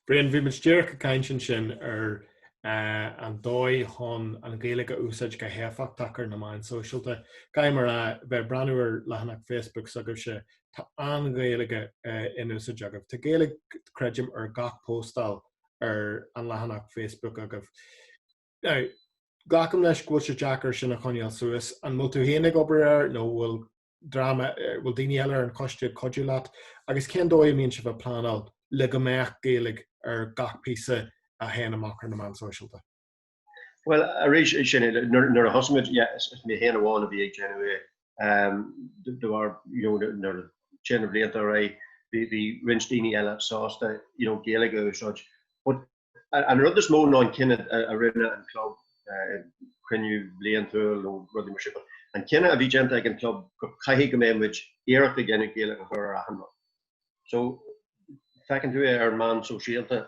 Brian, bhí muid díreach ag caint ansin ar an dóigh chun an Ghaeilge a úsáid go héifeachtach ar na meáin sóisialta. Caithfidh mé a rá, bheith ag breathnú ar leathanach Facebook s'agaibhse Tá an Ghaeilge in úsáid agaibh. Tá Gaeilge, creidim, ar gach póstáil ar an leathanach Facebook agaibh. Now, glacaim leis go bhfuil sé deacair sin a choinneáil suas. An bhfuil tú féin ag obair air nó bhfuil dream eh, bhfuil daoine eile ar an choiste ag cuidiú leat agus cén dóigh a mbíonn sibh ag pleanáil le go mbeadh Gaeilge ar gach píosa a théann amach ar na meáin sóisialta? Bhuel arís sin nuair a thosaigh muid is mé féin amháin a bhí ag déanamh é ach de réir mar a théann na blianta ar aghaidh bhí roinnt daoine eile sásta Gaeilge a úsáid. But an rud is mó ná an cinneadh a rinne an club, cruinniú bliantúil nó rudaí mar sin, but an cinneadh a bhí déanta ag an club go gcaithfidh go mbeidh muid iarracht ag déanamh Gaeilge a chur ar achan rud. So feiceann tú é ar na meáin shóisialta.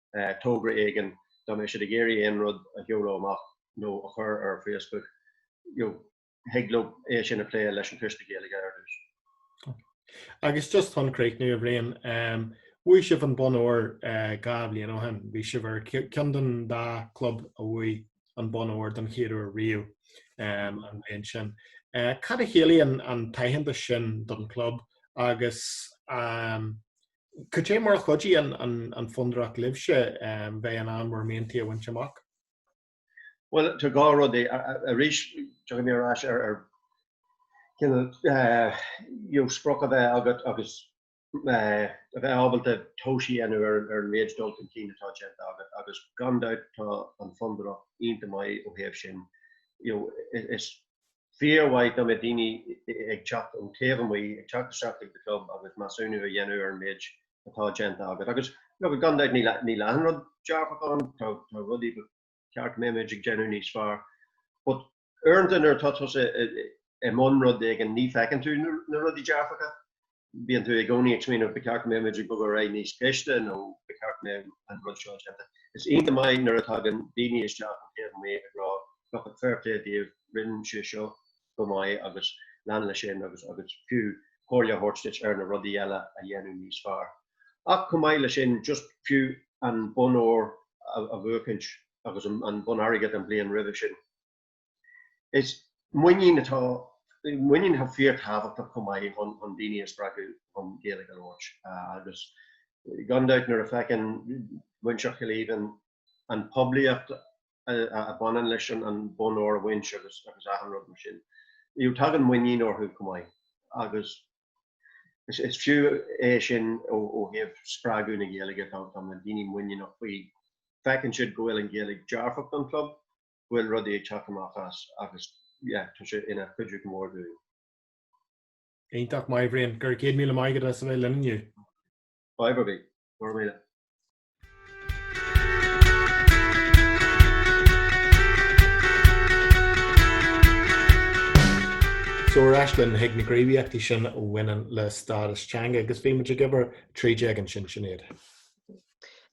togra éigin dá mbeadh siad ag iarraidh aon rud a sheoladh amach nó a chur ar Facebook, you know, thig leo é sin a phlé leis an Coiste Gaeilge ar dtús. Agus just chun críochnú, a Bhriain, um, bhuaigh sibh an Bonn Óir uh, dhá bhliain ó shin. Bhí sibh ar cheann den dá club a bhuaigh an Bonn Óir don chéad uair riamh um, an bhliain sin. Uh, cad a chiallaíonn an t-aitheantas sin don club agus um, Cad é mar a chuidigh an fondúireacht libhse bheith in ann bhur mhianta a bhaint amach? Bhuel, tá dhá rud ann. Arís, tiocfaidh mé ar ais ar cineál sprioc a bheith agat agus a bheith ábalta tomhais a dhéanamh ar an méid dul chun cinn atá déanta agat agus gan dabht tá an fondúireacht iontach maith ó thaobh sin. Is Fíor mhaith dá mbeadh daoine ag teacht ó taobh amuigh, ag teacht isteach chuig do chlub agus measúnú a dhéanamh ar an méid atá déanta agat. Agus, look, gan dabht níl achan rud dearfach ann, tá rudaí ba cheart go mbeadh muid ag déanamh níos fearr. But uaireanta nuair atá tusa i mbun rud éigin ní feiceann tú na rudaí dearfacha. bíonn tú i gcónaí ag smaoineamh ba cheart go mbeadh muid ag bogadh ar aghaidh níos gaiste nó ba cheart go mbeadh an rud seo déanta. Is iontach maith nuair a thagann daoine isteach ón taobh amuigh ag rá 'bhuel fair play daoibh, rinne sibh seo go maith agus lean le sin' agus agus fiú comhairle a thabhairt duit ar na rudaí eile a dhéanamh níos fearr. Ach chomh maith le sin just fiú an bonn óir a bhuachaint agus an bonn airgid an bhliain roimhe sin. Is muinín, tá muinín, tá sé fíor thábhachtach chomh maith chun, chun daoine a spreagadh chun Gaeilge a labhairt agus gan dabht nuair a fheiceann muintir Chill Aoibhinn an poiblíocht a bhaineann leis an an bonn óir a bhaint agus agus achan rud mar sin you know tagann muinín orthu chomh maith agus is is fiú é sin ó ó thaobh spreagadh na Gaeilge tá tá na daoine muiníneach faoi feiceann siad go bhfuil an Gaeilge dearfach don club bhfuil rudaí ag teacht amach as agus yeah tá sé ina chuidiú go mór dúinn. Iontach maith a Bhriain. Go raibh céad míle maith agat as a bheith linn inniu. Bye Bobby. Go raibh míle. So ar ais linn chuig na gníomhaíochtaí sin a bhaineann le stádas teanga agus bhí muid ag obair tríd daofa sin, sin iad.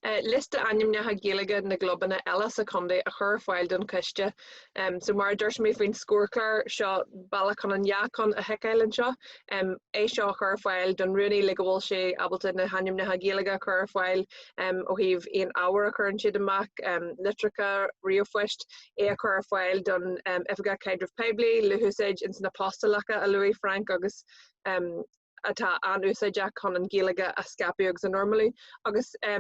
liosta ainmneacha Gaeilge na gclubanna eile sa chontae a chur ar fáil don choiste. So mar a dúirt mé faoin scórchlár, seo bealach chun an dá cheann a thiceáil anseo, é seo a chur ar fáil don rúnaí le go bhfuil sé ábalta na hainmneacha Gaeilge a chur ar fáil ó thaobh aon ábhar a chuireann siad amach, litreacha, ríomhphoist, é a chur ar fáil don Oifigeach Caidrimh Phoiblí, le húsáid ins na postálacha a luaigh Frank agus atá an-úsáideach chun an Ghaeilge a scaipeadh agus a normalú agus é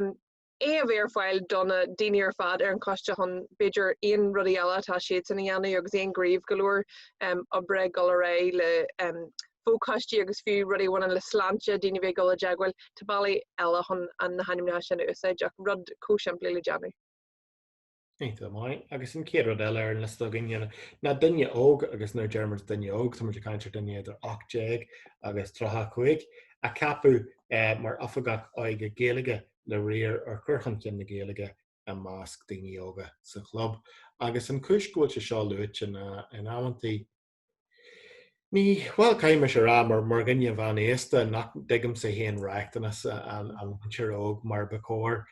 a bheith ar fáil do na daoine ar fad ar an choiste chun b'fhéidir aon rudaí eile atá siadsan a dhéanamh agus aon dabht go leor oibre ag dul ar aghaidh le fochoistí agus fiú rudaí a bhaineann le sláinte daoine a bheith ag dul i dteagmháil, tá bealaí eile chun na hainmneacha sin a úsáid rud chomh simplí le déanamh. Iontach maith agus an chéad rud eile ar an liosta againn ná duine óg agus nuair a deir muid duine óg tá muid ag caint ar dhuine idir 18 agus 35 a cheapadh eh, mar oifigeach óige Gaeilge le riar ar chur chun cinn na Gaeilge i measc daoine óga sa chlub agus an chúis go bhfuil sé seo luaite ná in amanntaí Ní bhfuil caimis ar a' mar mar dhuine mheánaosta nach dtuigimse fhéin riachtanais an mhuintir óg mar ba chóir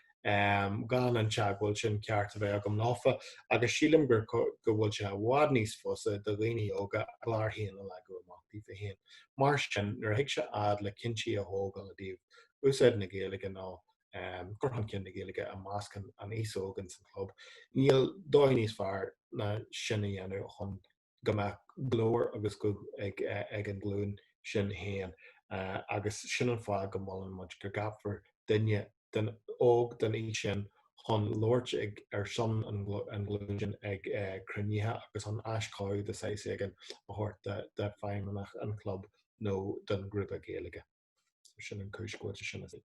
gan an teagmháil sin ceart a bheith agam leofa agus sílim gur go bhfuil sé i bhfad níos fusa do dhaoine óga a gclár fhéin a leagadh amach díofa fhéin. Mar sin nuair a thig sé fhad le cinntí a thógáil i dtaobh úsáid na Gaeilge nó cur chun cinn na Gaeilge i measc an aos óg ins an chlub níl dóigh níos fearr ná sin a dhéanamh chun go mbeadh glór agus guth ag an ghlúin sin féin agus sin an fáth go molann muid go gceapfar duine óg den aois sin chun labhairt ar son an ghlúin sin ag cruinnithe agus chun aiseolas de shaghas éigin a thabhairt do feidhmeannach an chlub nó don ghrúpa Gaeilge. Sin an chúis go bhfuil sé sin ar siúl.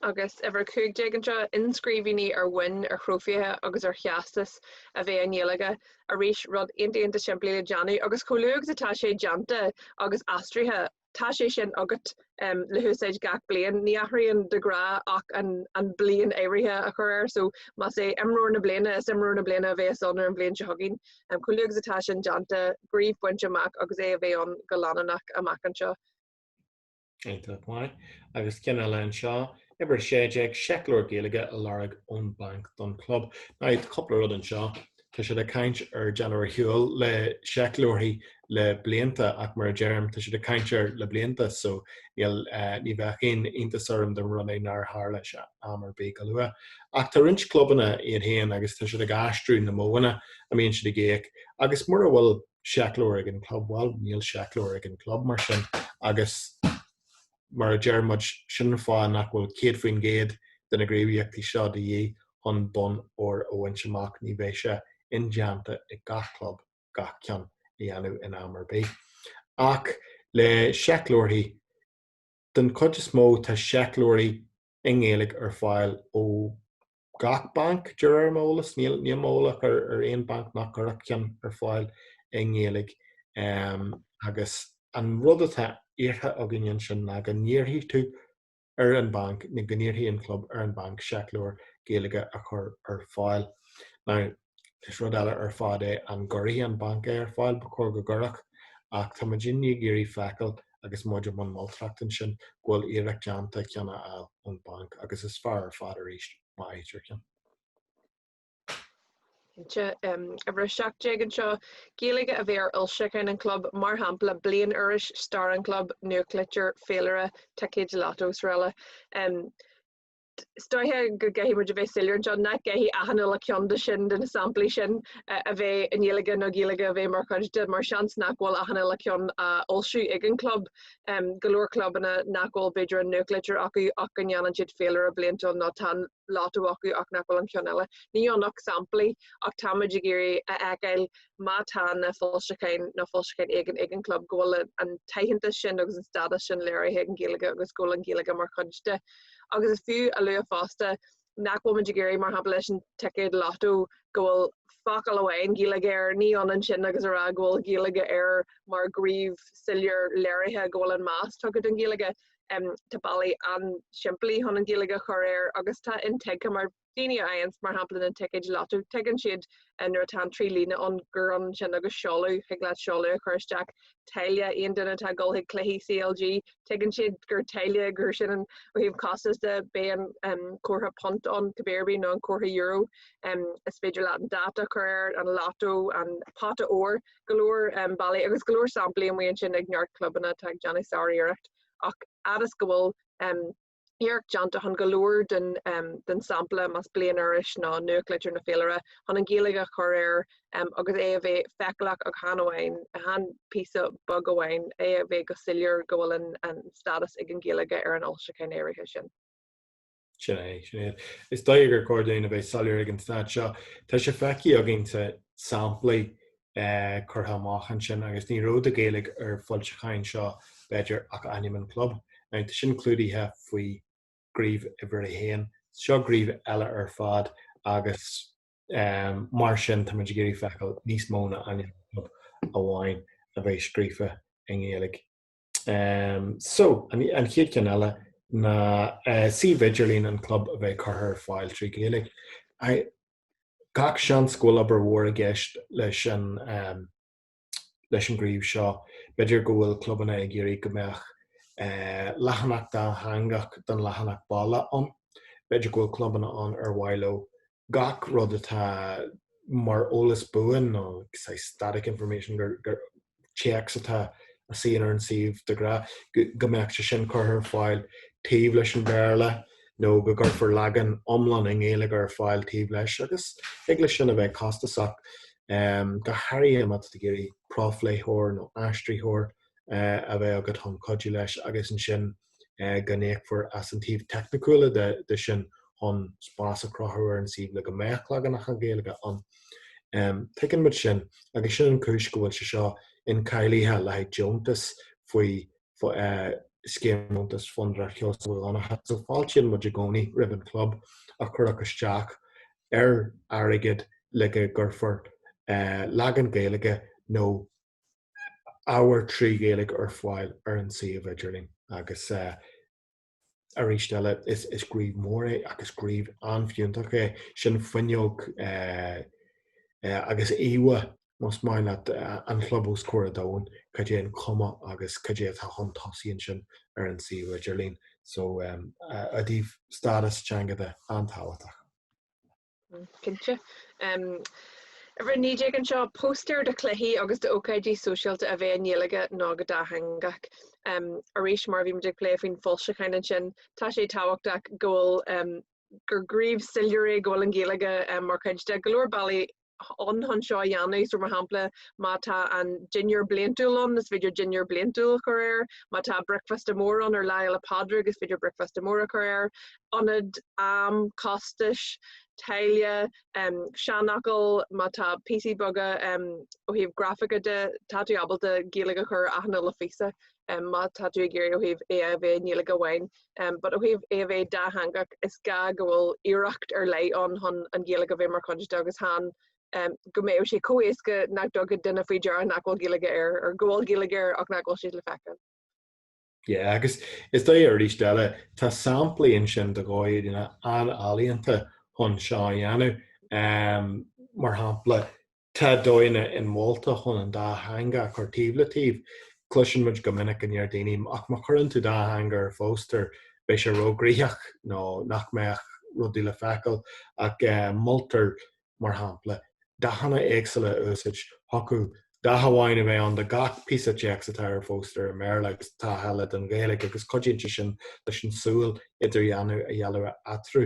Agus uimhir a cúig déag anseo, inscríbhinní ar bhoinn, ar thrófaithe agus ar theastais a bheith i nGaeilge. Arís, rud iontach iontach simplí le déanamh, agus chomh luath agus atá sé déanta agus aistrithe, tá sé sin agat le húsáid gach bliain. Ní athraíonn de ghnáth ach an bhliain áirithe a chur air, so más é imreoir na bliana, is imreoir na bliana a bheas ann ar an bhliain seo chugainn. Chomh luath agus atá sin déanta, gníomh bainte amach agus é a bheith ann go leanúnach amach anseo. Iontach maith. Agus ceann eile anseo, Uimhir 16, seicleabhar Gaeilge a lorg ón banc don chlub. Now cúpla rud anseo. Tá siad ag caint ar déanamh ar shiúl le seicleabhair le blianta ach mar a deirim, tá siad ag caint air le blianta so níl, eh, ní bheadh aon iontas orm dá mba rud é nár tharla sé am ar bith go luath. Ach tá roinnt clubanna iad féin agus tá siad ag aistriú na modhanna a mbíonn siad ag íoc agus mura bhfuil seicleabhar ag an club, bhuel, níl seicleabhar ag an club mar sin agus mar a deir muid, sin an fáth nach bhfuil 100% de na gníomhaíochtaí seo de dhíth chun bonn óir a bhaint amach, ní bheidh sé indéanta ag gach club gach ceann a dhéanamh in am ar bith. Ach le seicleabharthaí, den chuid is mó, tá seicleabharthaí i nGaeilge ar fáil ó gach banc, de réir m'eolas. Níl mé eolach ar aon banc nach gcuirfeadh ceann ar fáil i nGaeilge agus an rud atá iarrtha againn ansin ná go n-iarrfaidh tú ar an bhanc, nó go n-iarrfaidh an club ar an bhanc seicleabhar Gaeilge a chur ar fáil. Now. is rud eile ar fad é an gcuirfidh an banc é ar fáil, ba chóir go gcuirfeadh, ach tá muidne ag iarraidh feiceáil agus muid i mbun moltóireachta ansin go bhfuil iarracht déanta ceann a fháil ón bhanc agus is fearr ar fad arís má fhaightear ceann. Cinnte, uimhir 17 anseo, Gaeilge a bheith ar fhoilseacháin an club, mar shampla Bliainiris, Stair an Chlub, Nuachtlitir, Féilire, Ticéid Lotto, srl. Um, Is dóiche go gcaithfidh muid a bheith soiléir anseo nach gcaithfidh achan uile cheann de sin de na samplaí sin a bheith i nGaeilge nó Gaeilge a bheith mar chuid de mar seans nach bhfuil achan uile cheann á fhoilsiú ag an gclub. Go leor clubanna nach bhfuil b'fhéidir an nuachtlitir acu ach go ndéanann siad féilire bliantúil nó tá an Lotto acu ach nach bhfuil an ceann eile. Níl ann ach samplaí ach táimid ag iarraidh a fheiceáil má tá na foilseacháin nó foilseachán éigin ag an gclub go bhfuil an t-aitheantas sin agus an stádas sin léirithe ag an Ghaeilge agus go bhfuil an Ghaeilge mar chuid de agus is fiú a lua fosta nach bhfuil muid ag iarraidh, mar shampla, leis an ticéad lotto go bhfuil focal amháin Gaeilge air, ní hionann sin agus a rá go bhfuil Gaeilge air mar ghníomh soiléir léirithe go bhfuil an meas tugtha don Ghaeilge. Tá bealaí an-simplí chun an Ghaeilge a chur air agus tá intuigthe mar daoine a fhaigheanns mar shampla na ticéid lotto, tuigeann siad nuair atá an trí líne ann gur ansin agus seoladh, thig leat seoladh a chur isteach, taille, aon duine atá ag dul chuig cluichí CLG, tuigeann siad gur taille, gur sin an, ó thaobh costas de, bíonn comhartha punt ann cibé ar bith nó an comhartha euro, is féidir leat an dáta a chur air, an lotto, an pota óir, go leor bealaí agus go leor samplaí amuigh ansin ag neart clubanna atá ag déanamh sáriarracht ach fhad is go bhfuil Iarracht déanta chun go leor den sampla, más bliainiris nó nuachtlitir nó féilire, chun an Ghaeilge a chur air agus é a bheith feiceálach ach chan amháin, chan píosa beag amháin, é a bheith go soiléir go bhfuil an stádas ag an Ghaeilge ar an fhoilseachán áirithe sin. Sin é, sin iad. Is dóigh gur chóir dúinn a bheith soiléir ag an staid seo. Tá sé feicthe againn sna samplaí eh, curtha amach ansin agus ní raibh de Ghaeilge ar na foilseacháin seo b'fhéidir ach ainm an chlub. Now tá sin clúdaithe faoi ghníomh uimhir a haon. Seo gníomh eile ar fad agus eh, mar sin táimid ag iarraidh feiceáil níos mó ná ainm an chlub amháin a bheith scríofa i nGaeilge. Eh, so, an, an chéad cheann eile ná eh, suíomh idirlín an chlub a bheith curtha ar fáil trí Ghaeilge. I, Gach seans go bhfuil obair mhór i gceist leis an ghníomh seo. B'fhéidir go bhfuil clubanna ag iarraidh go mbeadh leathanach dátheangach den leathanach baile ann. B'fhéidir go bhfuil clubanna ann ar mhaith leo gach rud atá mar eolas buan nó saghas static information, téacs atá a suíonn ar an suíomh de ghnáth, go mbeadh sé sin curtha ar fáil taobh leis an Bhéarla nó go gcuirfear leagan iomlán i nGaeilge ar fáil taobh leis agus thig leis sin a bheith costasach. Go háirithe má tá tú ag iarraidh profléitheoir nó aistritheoir a bheith agat chun cuidiú leis agus ansin eh, go n-íocfar as an taobh teicniciúla de, de sin chun spás a chruthú ar an suíomh le go mbeadh leaganacha Gaeilge ann. Um, Tuigeann muid sin, agus sin an chúis go bhfuil sé seo incháilithe le haghaidh deontas faoi eh, scéim dheontais Fhondúireacht Sheosaimh Mhic Dhonncha. So fáiltíonn muid i gcónaí roimh an club a chuirfeadh isteach ar airgead le go gcuirfear eh, leagan Gaeilge nó ábhar trí Ghaeilge ar fáil ar an suíomh idirlín agus arís eile is gníomh mór é ach is gníomh an-fhiúntach é. Sin fuinneog agus íomha más maith leat an chlub os comhair an domhain, cad é an chuma agus cad é atá chun tosaigh ansin ar an suíomh idirlín. So, i dtaobh stádas teanga de, an-tábhachtach. An ceann deiridh, 19 anseo, póstaeir de chluichí agus d'ócáidí sóisialta a bheith i nGaeilge nó go dátheangach. Arís, mar a bhí muid ag plé faoi na foilseacháin ansin, tá sé tábhachtach go bhfuil, gur gníomh soiléir é go bhfuil an Ghaeilge mar chuid de. Tá go leor bealaí ann chun seo a dhéanamh, so mar shampla má tá an dinnéar bliantúil ann is féidir dinnéar bliantúil a chur air, má tá bricfeasta mór ann ar Lá Fhéile Pádraig is féidir bricfeasta mór a chur air, ionad, am, costais, táille, seanfhocal, má tá píosaí beaga ó thaobh grafaice de, tá tú ábalta Gaeilge a chur ar achan uile phíosa má tá tú ag iarraidh ó thaobh é a bheith i nGaeilge amháin. But ó thaobh é a bheith dátheangach, is gá go bhfuil iarracht ar leith ann chun an Ghaeilge a bheith mar chuid de agus chan go mbeadh sé chomh héasca nach dtugfadh duine faoi deara nach bhfuil Gaeilge air, or go bhfuil Gaeilge air ach nach bhfuil sí le feiceáil. Ie agus is doigh aríst eile tá samplaí ansin de dhóigheanna an-ealaíonta chun seo a dhéanamh. Ehm mar shampla tá dóigheanna inmholta chun an dá theanga a chur taobh le taobh. Cloiseann muid go minic go ndeir daoine ach má chuireann tú dá theanga ar phóstaer beidh sé róghraitheach nó nach mbeadh rudaí le feiceail ach moltar mar shampla, dathanna éagsúla a úsáid, thiocfadh, dath amháin a bheith ann do gach píosa téacs atá ar phóstaer i mBéarla agus dath eile don Ghaeilge agus cuidíonn sé sin leis an tsúil idirdhealú a dhéanamh eatarthu,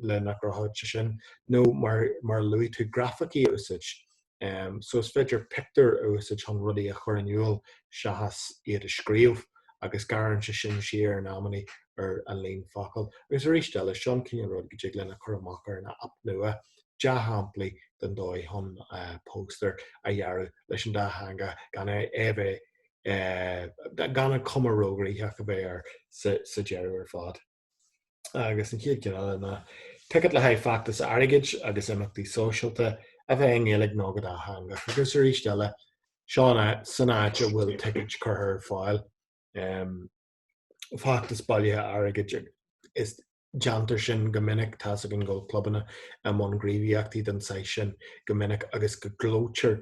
leithéid sin nó mar a luaigh tú grafaicí a úsáid. Um, so is féidir pictiúir a úsáid chun rudaí a chur in iúl seachas iad a scríobh agus gearrann sé sin siar in amannaí ar an líon focal. Agus arís eile, seo an cineál rud go dtig linn a chur amach ar an app nua dea-shamplaí den dóigh chun uh, eh, póstaer a dhearadh leis an dá theanga gan é a bheith uh, gan an cuma róghraitheach a bheith air sa, sa deireadh ar fad. agus an chéad cheann eile ná ticéid le haghaidh feachtas airgid agus imeachtaí sóisialta a bheith i nGaeilge nó go dátheangach agus arís eile san áit a bhfuil ticéid curtha ar fáil. Feachtas bailithe airgid is déantar sin go minic, tá's agam go bhfuil clubanna i mbun gníomhaíochtaí den saghas sin go minic agus go gclóitear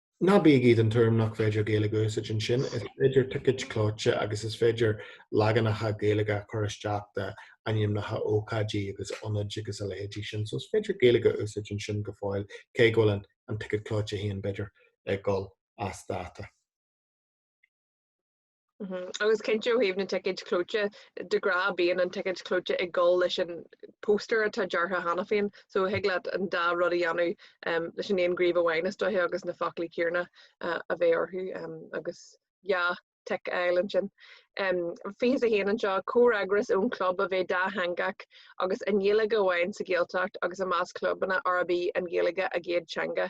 Ná bígí den tuairim nach féidir Gaeilge a úsáid ansin, is féidir ticéid chlóite agus is féidir leaganacha Gaeilge a chur isteach d'ainmneacha ócáidí agus ionaid agus a leithéidí sin, so is féidir Gaeilge a úsáid ansin go fóill, cé go bhfuil an an ticéad clóite féin b'fhéidir ag dul as dáta. Mhm agus cinnte ó thaobh na ticéid chlóite de ghnáth bíonn an ticéad clóite ag dul leis an póstaer atá deartha cheana féin so thig leat an dá rud a dhéanamh em leis an aon scríob amháin is dóiche agus na foclaí céanna eh a bheith orthu em agus yeah tic a fháil ansin. Em 21 anseo comhfhreagras ón chlub a bheith dátheangach agus i nGaeilge amháin sa Ghaeltacht agus i measc clubanna arb í an Ghaeilge a gcéad teanga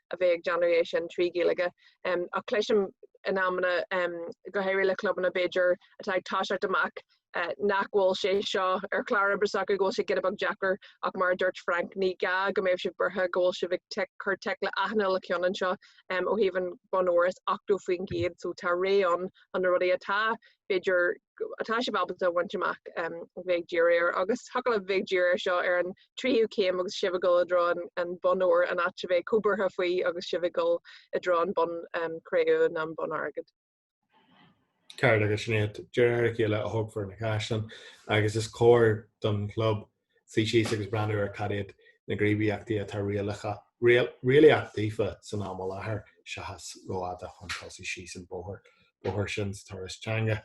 a bheith ag déanamh é sin trí Ghaeilge um, ach cloisim in amanna um, go háirithe le clubanna b'fhéidir atá ag toiseacht amach uh, nach bhfuil sé seo ar chlár oibre s'acu go bhfuil sé giota beag deacair ach mar dúirt Frank ní gá go mbeadh sibh buartha go bhfuil sibh ag tic, cur tic le achan uile cheann anseo um, ó thaobh an bonn óir is 80% so tá réimse ann, na rudaí atá b'fhéidir atá sibh ábalta a bhaint amach a bheith díriú air agus thiocfadh libh a bheith díriú air seo ar an tríú céim agus sibh ag dul i dtreo an bonn óir an áit a bheith róbhuartha faoi agus sibh ag dul i dtreo an bonn cré-umha ná an bonn airgid. Ceart agus sin é, de réir a chéile a thógfar na caisleáin agus is cóir don chlub suí síos agus breathnú ar caidé na gníomhaíochtaí atá réalaíoch daofa ag an am i láthair seachas dul rófhada chun tosaigh síos an bóthar sin sa turas teanga.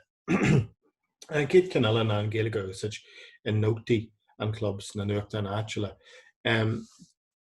An chéad cheann eile ná an Ghaeilge a úsáid i nótaí an chlub sna nuachtáin áitiúla. Um,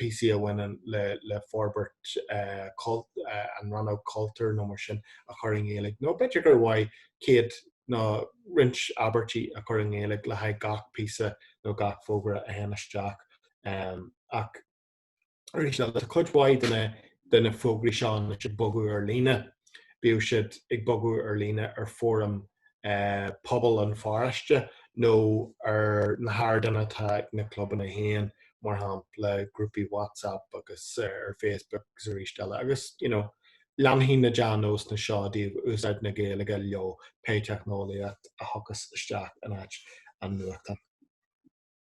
Píosa a bhaineann le forbairt an rannóg cultúir nó mar sin a chur i nGaeilge nó b'fhéidir gur mhaith céad nó roinnt abairtí a chur i nGaeilge le haghaidh gach píosa nó gach fógra a théann isteach ach arís eile tá cuid mhaith de na de na fógraí seo anois ag bogadh ar lína bíodh siad ag bogadh ar lína ar fóraim eh, pobail an pharóiste nó ar na hardáin atá ag na clubanna féin, mar shampla grúpaí WhatsApp agus eh, ar Facebook agus arís eile agus you know, leanfaidh na dea-nósanna seo de úsáid na Gaeilge leo pé teicneolaíocht a thiocfas isteach in áit an nuachtáin.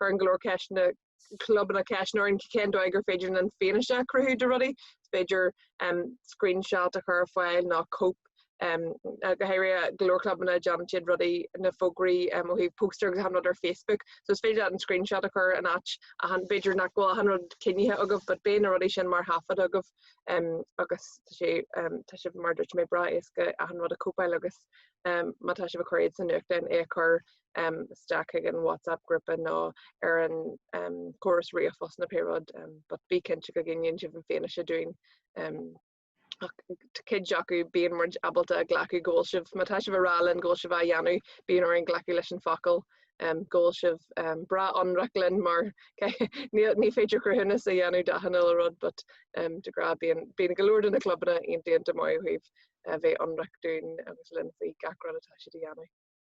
cuireann go leor de na clubanna ceist orainn cén dóigh gur féidir an fianaise a chruthú de rudaí féidir um, screenshot a chur ar fáil nó cóip um, go háirithe go leor clubanna déanann siad rudaí na fógraí um, ó thaobh póstaer agus an rud ar Facebook so is féidir an screenshot a chur an áit b'fhéidir nach bhfuil an rud coinnithe agaibh but beidh na rudaí sin mar thaifead agaibh um, agus tá sé um, tá sé mar a dúirt mé breá éasca a an rud a chóipeáil agus um, má tá sé á chur agat san nuachtain é a chur isteach chuig an WhatsApp grúpa nó ar an gcóras ríomhphost nó pé rud, but bí cinnte go gcoinníonn sibh an fianaise dúinn. Ach cuid acu bíonn muid ábalta a ghlacadh go bhfuil sibh, má tá sibh ag rá linn go bhfuil sibh á dhéanamh, bíonn orainn glacadh leis an focal go bhfuil sibh breá ionraic linn mar ní féidir cruthúnas a dhéanamh d'achan uile rud but de ghnáth bíonn go leor de na clubanna iontaofa maith ó thaobh bheith ionraic dúinn agus linn faoi gach rud atá siad a dhéanamh.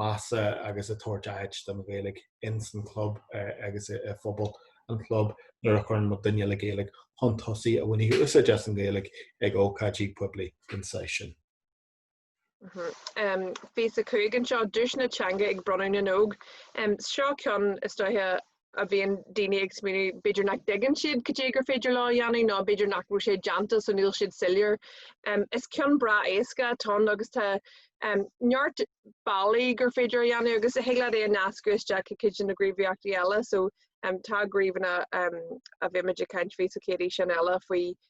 measa agus ag tabhairt áit don Ghaeilge ins an chlub agus i phobal an chlub nuair a chuireann muid duine le Gaeilge chun tosaigh a bhainfidh úsáid as an Ghaeilge ag ócáidí poiblí den saghas sin. Gníomh a 5 anseo, Duaiseanna Teanga ag Bronnadh na nÓg. Seo ceann is dóiche a bhíonn daoine ag smaoineamh b'fhéidir nach dtuigeann siad cad é gur féidir leo a dhéanamh nó b'fhéidir nach bhfuil sé déanta so níl siad soiléir. Is ceann breá éasca atá ann agus tá neart bealaí gur féidir é a dhéanamh agus thig leat é a nascadh isteach i gcuid de na gníomhaíochtaí eile so tá gníomhanna a bheimid ag caint faofa sa chéad fhíseán eile faoi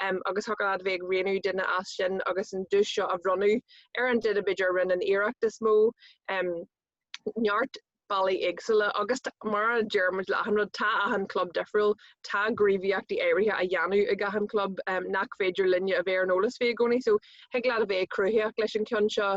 agus thig leat a bheith ag roghnú duine as sin agus an duais seo a bhronnadh ar an duine b'fhéidir a rinne an iarracht is mó. Neart bealaí éagsúla agus mar a deir muid le achan rud, tá achan club difriúil, tá gníomhaíochtaí áirithe á dhéanamh ag achan club nach féidir linne a bheith ar an eolas faoi i gcónaí so thig leat a bheith cruthaitheach leis an gceann seo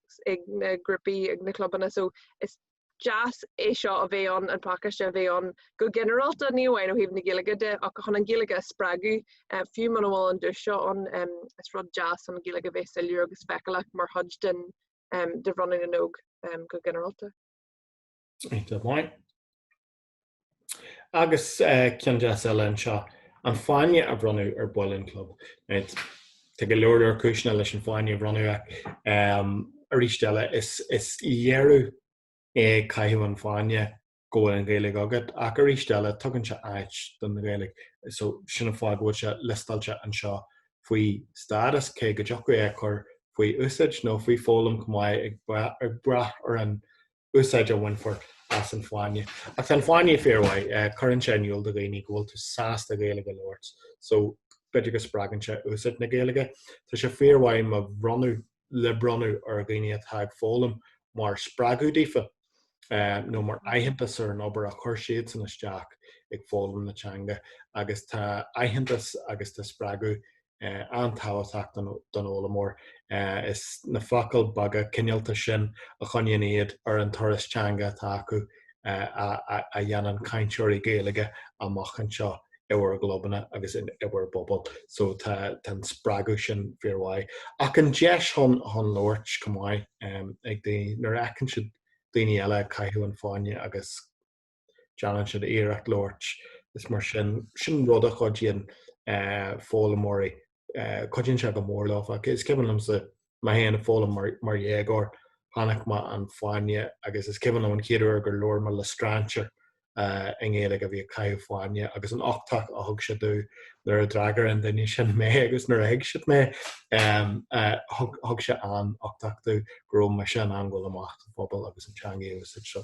ag na grúpaí ag na clubanna so is deas é seo a bheith ann an pacáiste a bheith ann go ginearálta ní amháin ó thaobh na Gaeilge de ach chun an Ghaeilge a spreagadh eh, fiú muna bhfuil an dualgas seo ann em, is rud deas an Ghaeilge a bheith soiléir agus feiceálach mar chuid den em, de bhronnadh na nÓg em, go ginearálta. Áit amháin. Agus ceann deas eile anseo, an fáinne a bhronnadh ar baill an chlub. Tá go leor leor cúiseanna leis an fáinne a bhronnadh. Arís eile, is léiriú é caitheamh an fáinne go bhfuil an Ghaeilge agat, ach arís eile, tugann sé áit don Ghaeilge. So, sin an fáth go bhfuil sé liostáilte anseo faoi stádas, cé go dtiocfadh é a chur faoi úsáid nó faoi foghlaim chomh maith, ag brath ar an úsáid a bhainfear as an fáinne. Ach tá an fáinne fíormhaith, eh, cuireann sé in iúl do dhaoine go bhfuil tú sásta Gaeilge a labhairt, so b'fhéidir go spreagann sé úsáid na Gaeilge. Tá sé fíormhaith má bhronnadh le bronnadh ar dhaoine atá ag foghlaim mar spreagadh daofa eh, nó mar aitheantas ar an obair a chuir siad san isteach ag foghlaim na teanga agus tá aitheantas agus tá spreagadh eh, an-tábhachtach don, don fhoghlaimeoir. Eh, is na focail bheaga cineálta sin a choinníonn iad ar an turas teanga atá acu eh, a, a, a dhéanann cainteoirí Gaeilge amach anseo i bhur gclubanna agus in, i bhur bpobal. So tá an spreagadh sin fíormhaith. Ach an deis chun, chun labhairt chomh maith um, ag daoine, nuair a fheiceann siad daoine eile ag caitheamh an fáinne agus Déanann siad iarracht labhairt is mar sin sin rud a chuidíonn eh, foghlaimeoirí eh, cuidíonn sé go mór leofa is cuimhin liomsa mé féin ag foghlaim mar, mar dhéagóir chonaic mé an fáinne agus is cuimhin liom an chéad uair gur labhair mé le strainséir eh, i nGaeilge a bhí ag caitheamh fáinne agus an uchtach a thug sé domh nuair a d'fhreagair an duine sin mé agus nuair a thuig siad mé em, eh, thug thug sé an uchtach domh go raibh mise in ann gabháil amach sa phobal agus an teanga a úsáid so.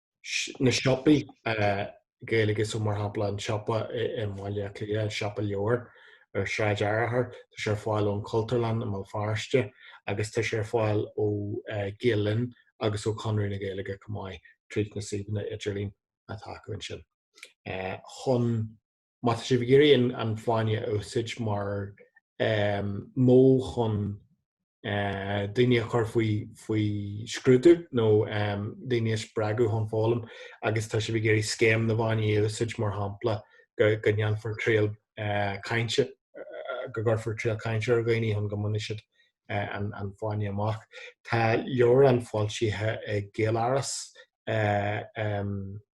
na siopaí Gaeilge so mar shampla an siopa i mBaile Átha Cliath, an siopa leabhar ar Shráid Fhearchair, tá sé ar fáil ón Chultúrlann i mBéal Feirste agus tá sé ar fáil ó Ghael Linn agus ó Chonradh na Gaeilge chomh maith tríd na suíomhanna idirlín atá acu ansin. Chun Má tá sibh ag iarraidh an fáinne a úsáid mar modh chun daoine a chur faoi scrúdú nó daoine a spreagadh chun foghlaim agus tá sibh ag iarraidh Scéim na bhFáinní a úsáid mar shampla go ndéanfar triail cainte, go gcuirfear triail cainte ar dhaoine chun go mbainfidh siad an fáinne amach. Tá leabhrán foilsithe ag Gaeláras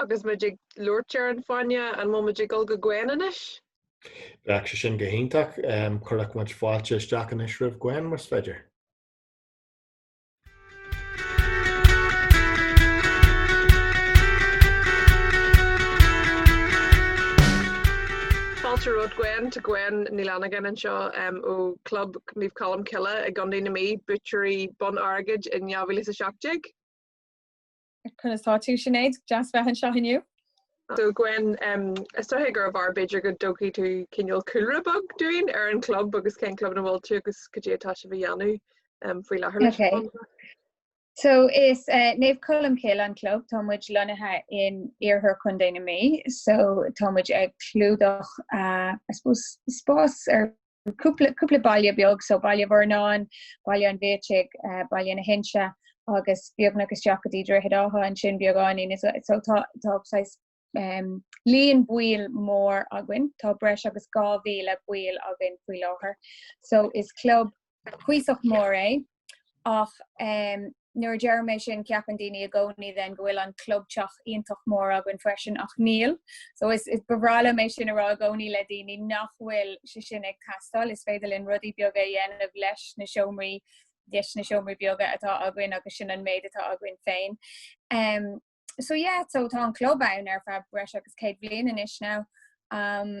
Agus muid ag labhairt ar an Fáinne, an bhfuil muid ag dul go Gwen anois? Bheadh sé sin go hiontach. Cuirfidh muid fáilte isteach anois roimh Gwen, más féidir. Fáilte romhat Gwen, tá Gwen Ní Fhlannagáin anseo ó Chlub Naomh Colm Cille i gContae na Mí, buaiteoirí Bonn Airgid in 2017. Conas tá tú, Sinéad? Deas bheith anseo inniu. So Gwen, um, is dóigh gurbh fhearr b'fhéidir go dtabharfaidh tú cineál cúlra beag dúinn ar an club agus cén club ina bhfuil tú agus cad é atá sibh a dhéanamh um, faoi láthair leis. Okay. So is uh, eh, Naomh Colm Cille an club tá muid lonnaithe in oirthear Chontae na mí, so tá muid ag clúdach uh, eh, spás ar cúpla baile beag so Baile Uí Mhornáin, Baile an Bhiataigh, eh, Baile na hInse agus beagnach isteach go dtí Droichead Átha ansin beagáinín is so tá saghas um, líon baill mór againn, tá breis agus 2000 ball againn faoi láthair. So is club cuíosach mór é. ach nuair a deirim sin ceapann daoine i gcónaí then go bhfuil an clubtheach iontach mór againn freisin ach níl. So is, is ba bhreá liom é sin a rá i gcónaí le daoine nach bhfuil sé sin ag teastáil, is féidir linn rudaí beaga a dhéanamh leis na seomraí, leis na seomraí beaga atá againn agus sin an méid atá againn féin. Um so yeah, so tá an club ann ar feadh breis agus céad bliain anois now. Um.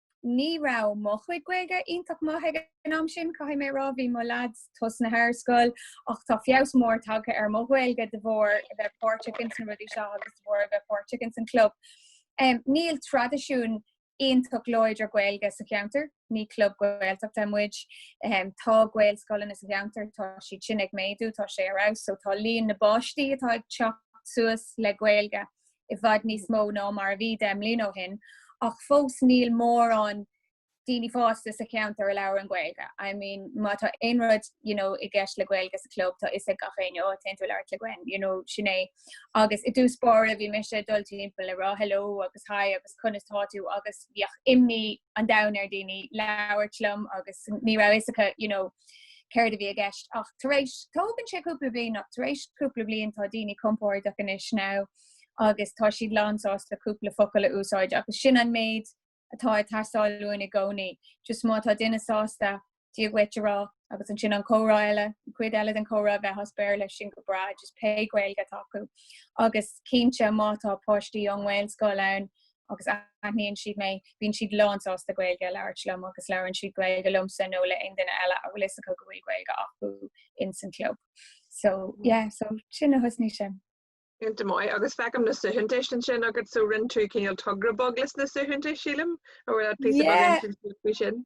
ní raibh mo chuid Gaeilge iontach maith ag an am sin, caithfidh mé a rá, bhí mo lads tosnaithe ar scoil ach tá feabhas mór tagtha ar mo Ghaeilge de bharr a bheith páirteach ins na rudaí seo agus de bharr a bheith páirteach ins an club. Níl traidisiún iontach láidir Gaeilge sa cheantar, ní club Gaeltachta muid. Tá Gaelscoileanna sa cheantar, tá siad sin ag méadú, tá sé ar fheabhas, so tá líon na bpáistí atá ag teacht suas le Gaeilge i bhfad níos mó ná mar a bhí deich mbliana ó shin ach fós níl mórán daoine fásta sa cheantar a labhrann Gaeilge. I mean, má tá aon rud you know, i gceist le Gaeilge sa chlub, tá fhios ag gach éinne, ó, téann tú ag labhairt le Gwen, you know, sin é. Agus i dtús báire bhí mise ag dul timpeall ag rá hello agus hi agus conas tá tú agus bhíodh imní an domhain ar daoine labhairt liom agus ní raibh fhios acu you know, céard a bhí i gceist ach tar éis tógann sé cúpla bliain ach tar éis cúpla bliain tá daoine compordach anois now agus tá siad lánsásta cúpla focal a úsáid agus sin an méid atá ag teastáil uainn i gcónaí, just má tá duine sásta dia dhuit a rá, agus ansin an comhrá eile, an chuid eile den chomhrá a bheith as Béarla, sin go breá, just pé Gaeilge atá acu. Agus cinnte, má tá páistí ón nGaelscoil ann agus aithníonn siad mé, bíonn siad lánsásta Gaeilge a labhairt liom agus labhrann siad Gaeilge liomsa nó le haon duine eile a bhfuil fhios acu go bhfuil Gaeilge acu ins an club. So, yeah, so sin a thosnaigh sin. Cinnte maith, agus feicim na suaitheantais ansin agat, so rinne tú cineál togra bog leis na suaitheantais, sílim, a bhfuil ort píosa bog ansin faoi sin?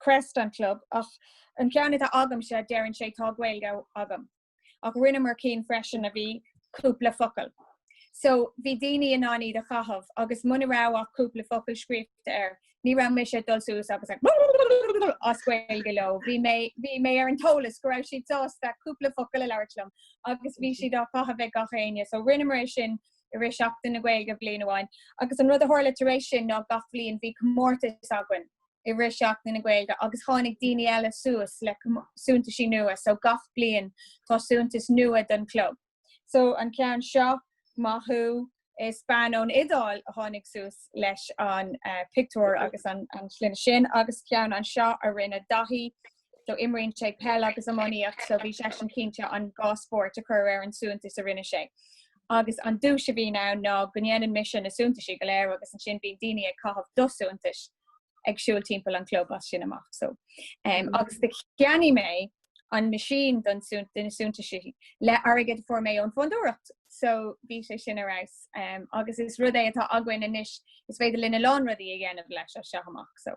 creast an club ach an ceann atá agamsa deireann sé tá Gaeilge agam ach rinneamar cinn freisin a bhí cúpla focal so bhí daoine in ann iad a chaitheamh agus muna raibh ach cúpla focal scríobhta air ní raibh mise ag dul suas agus ag as Gaeilge leo. Bhí mé, bhí mé ar an eolas go raibh siad sásta cúpla focal a labhairt liom agus bhí siad á chaitheamh ag gach éinne so rinneamar é sin i rith seachtain na Gaeilge bliain amháin agus an rud a tharla tar éis sin ná gach bhliain bhí comórtas againn i rith Seachtain na Gaeilge agus tháinig daoine eile suas le suntaisí nua so gach bliain tá suntas nua don chlub. So an ceann seo, maith thú, is bean ón Iodáil a tháinig suas leis an pictiúr agus an slogan sin agus ceann anseo a rinne Daithí so imríonn sé peil agus iománaíocht so bhí seisean cinnte an dhá spórt a chur ar an suntas a rinne sé. Agus an duais a bhíonn ann ná go ndéanann mise na suntaisí go léir agus ansin bíonn daoine ag caitheamh do shuntais ag siúl timpeall an chlub as sin amach so um, agus do cheannaigh mé an machine don sunt den suntaisí le airgead a fuair mé ón fondúireacht. So bhí sé sin ar fheabhas um, agus is rud é atá againn anois is féidir linn a lán rudaí a dhéanamh leis as seo amach so.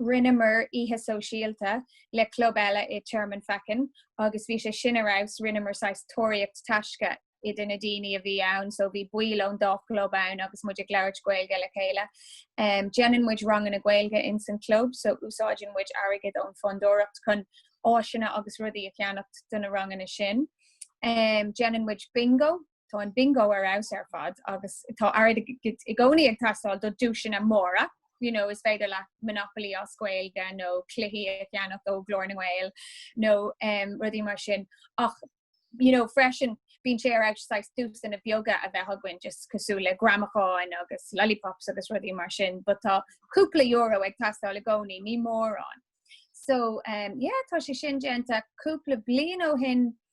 rinneamar oíche sóisialta le club eile i Tearmann Feichín agus bhí sé sin ar fheabhas, rinneamar saghas tóraíocht taisce do na daoine a bhí ann so bhí baill ón dá chlub ann agus muid ag labhairt Gaeilge le chéile. Déanann muid ranganna Gaeilge insan club so úsáideann muid airgead ón Fondúireacht chun áiseanna agus rudaí a cheannacht do na ranganna sin. Déanann muid bingo. Tá an bingo ar fheabhas ar fad agus tá airgead i gcónaí ag teastáil do duaiseanna móra. You know, is féidir leat Monopoly as Gaeilge nó cluichí a cheannach ó Ghlór na nGael nó um, rudaí mar sin. Ach you know, freisin bíonn sé ar exercise duaiseanna beaga a bheith againn just cosúil le gramacháin agus lollipops agus rudaí mar sin, but tá cúpla euro ag teastáil i gcónaí ní mórán. So um, yeah, tá sé sin déanta cúpla bliain ó shin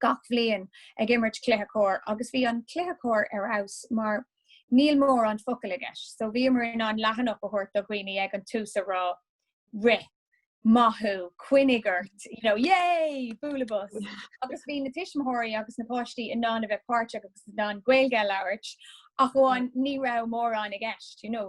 gach bhliain ag imirt cluiche corr agus bhí an cluiche corr ar fheabhas mar níl mórán focail i gceist so bhíomar in ann leathanach a thabhairt do dhaoine ag an tús a rá rith! maith thú! coinnigh ort! you know yay! bualadh bos! agus bhí na tuismitheoirí agus na páistí in ann a bheith páirteach agus in ann Gaeilge a labhairt ach amháin ní raibh mórán i gceist you know.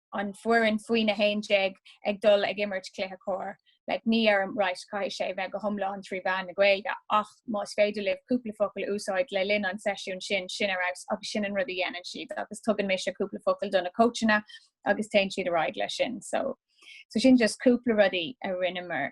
an foireann faoi na 11 ag dul ag imirt cluiche cóir, like ní deirim right caithfidh sé bheith go hiomlán trí mheán na Gaeilge ach más féidir libh cúpla focal a úsáid le linn an seisiún sin, sin ar fheabhas agus sin an rud a dhéanann siad agus tugann mise cúpla focal do na coachanna agus téann siad ar aghaidh leis sin so, so sin just cúpla rudaí a rinneamar.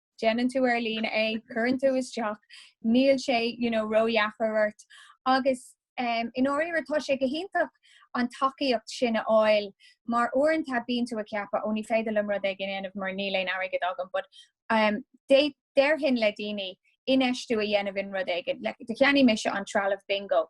déanann tú ar líne é, cuireann tú isteach, níl sé you know, ródheacair ort. Agus um, i ndáiríre tá sé go hiontach an tacaíocht sin a fháil mar uaireanta bíonn tú ag ceapadh ó ní féidir liom rud éigin a dhéanamh mar níl aon airgead agam, but um, déarfainn le daoine infheistiú a dhéanamh in rud éigin. Like, do cheannaigh mise an trealamh bingo.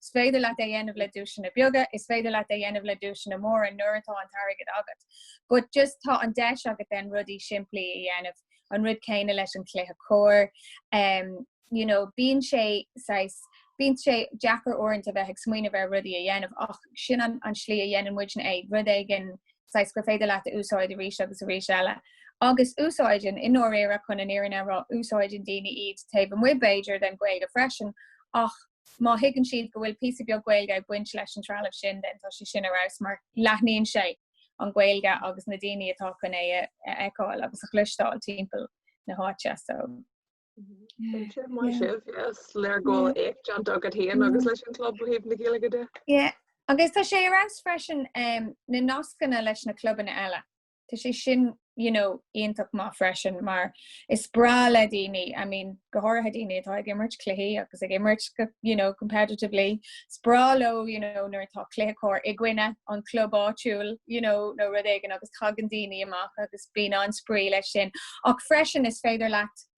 Is féidir leat é a dhéanamh le duaiseanna beaga, is féidir leat é a dhéanamh le duaiseanna móra nuair atá an t-airgead agat. But just tá an deis agat then rudaí simplí a dhéanamh, an rud céanna leis an cluiche cóir. Em you know bíonn sé saghas bíonn sé deacair uaireanta a bheith ag smaoineamh ar rudaí a dhéanamh ach sin an an slí a dhéanann muidne é, rud éigin saghas gur féidir leat a úsáid arís agus arís eile. Agus úsáideann, i ndáiríre, chun an fhírinne a rá, úsáideann daoine iad taobh amuigh b'fhéidir den Ghaeilge freisin ach Má thuigeann siad go bhfuil píosa beag Gaeilge ag baint leis an trealamh sin, then tá sé sin ar fheabhas mar leathnaíonn sé an Ghaeilge agus na daoine atá chun é a fheiceáil agus a chloisteáil timpeall na háite. So, Bíonn sé mar yeah. sibh, yes, leagáid yeah. éacht déanta agat féin mm. agus leis an club ó thaobh na Gaeilge de. Yeah. Agus tá sé ar fheabhas freisin um, na nascanna leis na clubanna eile. Tá sé sin you know, iontach maith freisin mar is breá le daoine I mean, go háirithe daoine atá ag imirt cluichí agus ag imirt go you know, competitively. Is breá leo you know, nuair atá cluiche cóir i gcoinne an club áitiúil you know, nó rud éigin agus tagann daoine amach agus bíonn an-spraoi leis sin. Ach freisin is féidir leat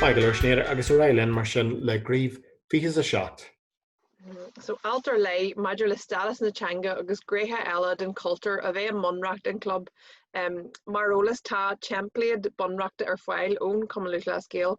Maith go leor Sinéad agus ar aghaidh linn mar sin le Gníomh 27. So alt ar leith maidir le stádas na teanga agus gnéithe eile den chultúr a bheith i mbunreacht an chlub. Mar eolas tá teimpléad bunreachta ar fáil ón Cumann Lúthchleas Gael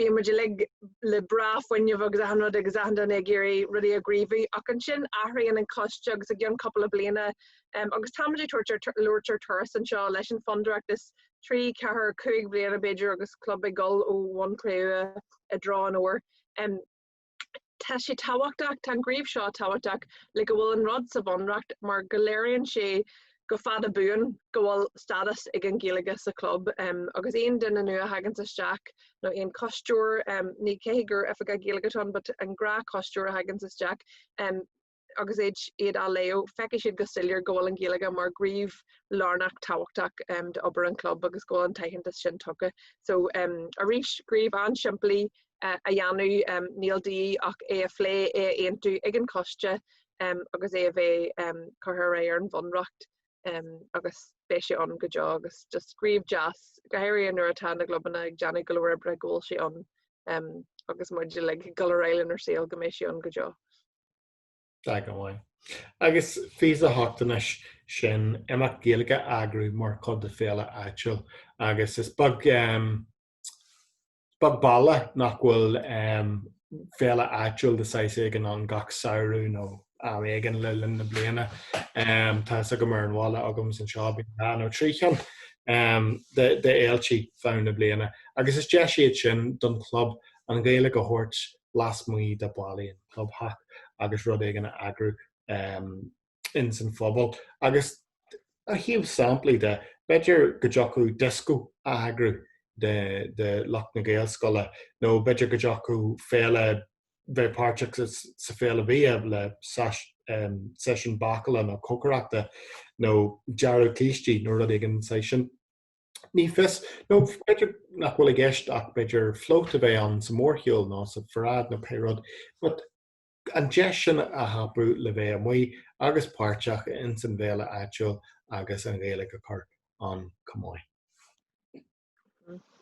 bíonn muid uilig le breá fuinneamh agus achan rud agus achan duine ag iarraidh rudaí a ghníomhú ach ansin athraíonn an coiste agus i gcionn cúpla bliana agus táimid ag labhairt ar turas anseo leis an Fondúireacht trí, ceithre, cúig bhliana b'fhéidir agus club ag dul ó bhonn cré-umha i dtreo an óir. Tá sé tábhachtach, tá an gníomh seo tábhachtach le go bhfuil an rud sa Bhunreacht mar go léiríonn sé go fadbhuan go bhfuil stádas ag an Ghaeilge sa chlub agus aon duine nua a thaganns isteach nó aon coisteoir, ní gá gur oifigeach Gaeilge atá ann but an gnáthchoisteoir a thaganns isteach, agus iad á léamh, feicfidh siad go soiléir go bhfuil an Ghaeilge mar ghníomh lárnach tábhachtach d'obair an chlub agus go bhfuil an t-aitheantas sin tugtha. So arís gníomh an-simplí a dhéanamh, níl de dhíth ach é a phlé, é a aontú ag an choiste agus é a bheith curtha ar aghaidh ar an bhunreacht agus beidh sé ann go deo agus just gníomh deas, go háirithe nuair atá na gclubanna ag déanamh go leor oibre go bhfuil sé ann agus muid uilig ag dul ar aghaidh lenár saol go mbeidh sé ann go deo. Tá go maith. Agus 28 ansin imeacht Gaeilge a eagrú mar chuid de féile áitiúil agus is beag baile nach bhfuil féile áitiúil de saghas éigin ann gach samhradh nó am éigin le linn na bliana. Tá a fhios agam ar an bhaile agamsa anseo, bíonn dhá nó trí cheann d'fhéiltí feadh na bliana agus is deis iad sin don chlub an Ghaeilge a thabhairt lasmuigh de bhallaí an chlubtheach agus rud éigin a eagrú ins an phobal. Agus ó thaobh samplaí de, b'fhéidir go dtiocfadh dioscó a eagrú do lucht na Gaelscoile nó b'fhéidir go dtiocfadh féile bheith páirteach sa Féile Bhia le seisiún bácála nó cócaireachta nó dearadh cístí nó rud éigin saghas sin. Ní fios nó b'fhéidir nach bhfuil i gceist ach b'fhéidir float a bheith ann sa mórshiúl ná sa pharáid nó pé rud, but an deis sin a thapú le bheith amuigh agus páirteach ins an bhféile áitiúil agus an Ghaeilge a chur ann chomh maith.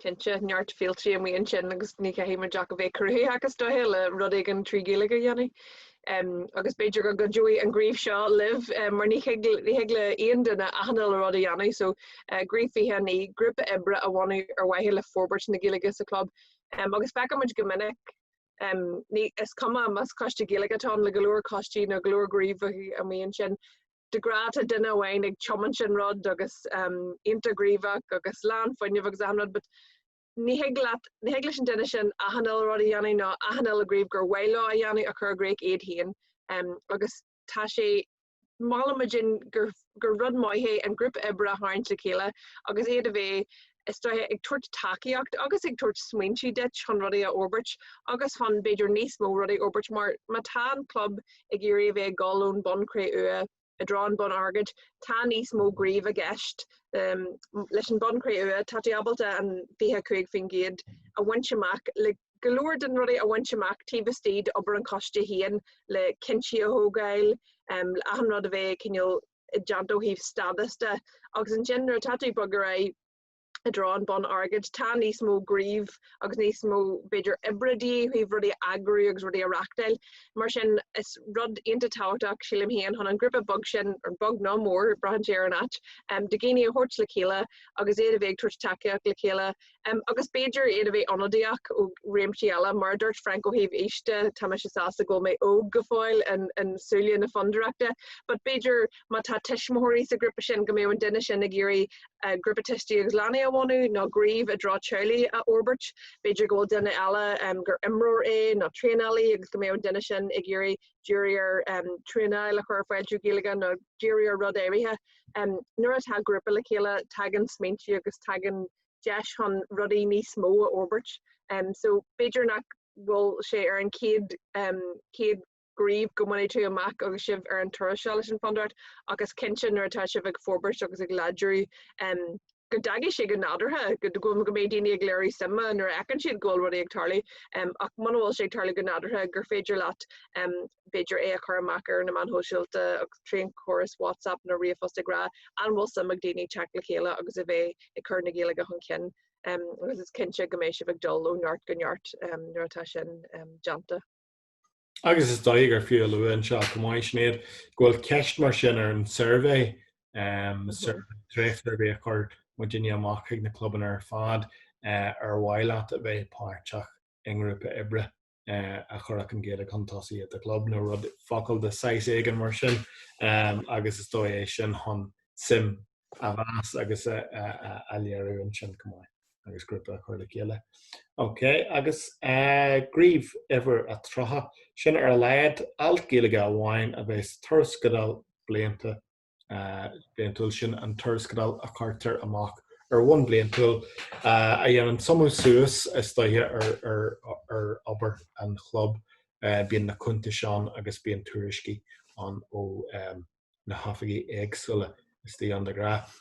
Cinnte, neart féiltí amuigh ansin agus ní chaithfidh muid ach a bheith cruthaitheach is dóiche le rud éigin trí Ghaeilge a dhéanamh. Um, agus b'fhéidir go gcuideoidh an gníomh seo libh, um, mar ní thig le aon duine achan uile rud a dhéanamh, so uh, gníomh 29, grúpa oibre a bhunú ar mhaithe le forbairt na Gaeilge sa club, um, agus feicimid go minic, um, ní, is cuma más coiste Gaeilge atá ann le go leor coistí nó go leor gníomhaíocht amuigh ansin, de ghnáth tá duine amháin ag tiomáint an rud agus um, iontach gníomhach agus lán fuinnimh agus achan rud, but Ní thig leat, ní thig leis an duine sin achan uile rud a dhéanamh ná achan uile ghníomh gur mhaith leo a dhéanamh a chur i gcrích iad féin. Agus tá sé, molann muid gur rud maith é an grúpa oibre a tharraingt le chéile agus iad a bheith, is dóiche, ag tabhairt tacaíocht agus ag tabhairt smaointe duit chun rudaí a fhorbairt agus chun, b'fhéidir, níos mó rudaí a fhorbairt mar má tá an club ag iarraidh a bheith ag dul ón mbonn cré-umha, i dtreo an bonn airgid, tá níos mó gnímh i gceist leis an mbonn cré-umha, tá tú ábalta an 25% a bhaint amach le go leor de na rudaí a bhaint amach taobh istigh d'obair an choiste féin, le cinntí a thógáil, le achan rud a bheith cineál i dteannta ó thaobh stádas de, agus ansin nuair atá tú ag bogadh ar aghaidh, i dtreo an bonn airgid. Tá níos mó gníomh agus níos mó b'fhéidir oibre de dhíth ó thaobh rudaí a eagrú agus rudaí a reachtáil. Mar sin is rud iontach tábhachtach, sílim féin, chun an grúpa beag sin, beag nó mór, braitheann sé ar an áit, de dhaoine a thabhairt le chéile agus iad a bheith ag tabhairt tacaíocht le chéile agus b'fhéidir iad a bheith ionadaíoch ó réimsí eile. Mar a dúirt Frank ó thaobh aoise, tá mise sásta go bhfuil mé óg go fóill in súile na fondúireachta but b'fhéidir, Má tá tuismitheoirí sa ghrúpa sin, go mbeadh an duine sin ag iarraidh grúpa tuistí agus leanaí a bhunú nó gníomh i dtreo teaghlaigh a fhorbairt. B'fhéidir go bhfuil duine eile gur imreoir é nó traenálaí agus go mbeadh an duine sin ag iarraidh díriú ar traenáil a chur ar fáil trí Ghaeilge nó díriú ar rud áirithe. Nuair atá grúpa le chéile, tagann smaointe agus tagann deis chun rudaí níos mó a fhorbairt. So b'fhéidir nach bhfuil sé ar an chéad gníomh go mbainfidh tú amach agus sibh ar an turas seo leis an Fhondúireacht ach is cinnte nuair atá sibh ag forbairt agus ag láidriú go dtagann sé go nádúrtha go mbeidh daoine ag léiriú suime nuair a fheiceann siad go bhfuil rudaí ag tarlú ach muna bhfuil sé ag tarlú go nádúrtha gur féidir leat b'fhéidir é a chur amach ar na meáin shóisialta agus trí an córas WhatsApp nó ríomhphost ag rá an bhfuil suim ag daoine teacht le chéile agus a bheith ag cur na Gaeilge chun cinn agus is cinnte go mbeidh sibh ag dul ó neart go neart nuair atá sin déanta. Agus is dóigh gur fiú a lua anseo chomh maith, Sinéad, go bhfuil ceist mar sin ar an suirbhé, um, dréachtsuirbhé a chuir muidinne amach chuig na clubanna ar fad, uh, ar mhaith leat a bheith páirteach i ngrúpa oibre, uh, a chuirfeadh an Ghaeilge chun tosaigh i do gclub nó rud focal de saghas éigin mar sin, um, agus is dóigh é sin chun suim a mheas agus a léiriú ansin chomh maith agus grúpa a chur le chéile. Ok, agus gníomh uimhir a tríocha, sin ar a laghad, alt Gaeilge amháin a bheith sa tuarascáil blianta bliantúil sin, an tuarascáil a chuirtear amach ar bhonn bliantúil a dhéanann suimiú suas is dóiche ar obair an chlub. Bíonn na cuntais ann agus bíonn tuairiscí ann ó na hoifigigh éagsúla istigh ann de ghnáth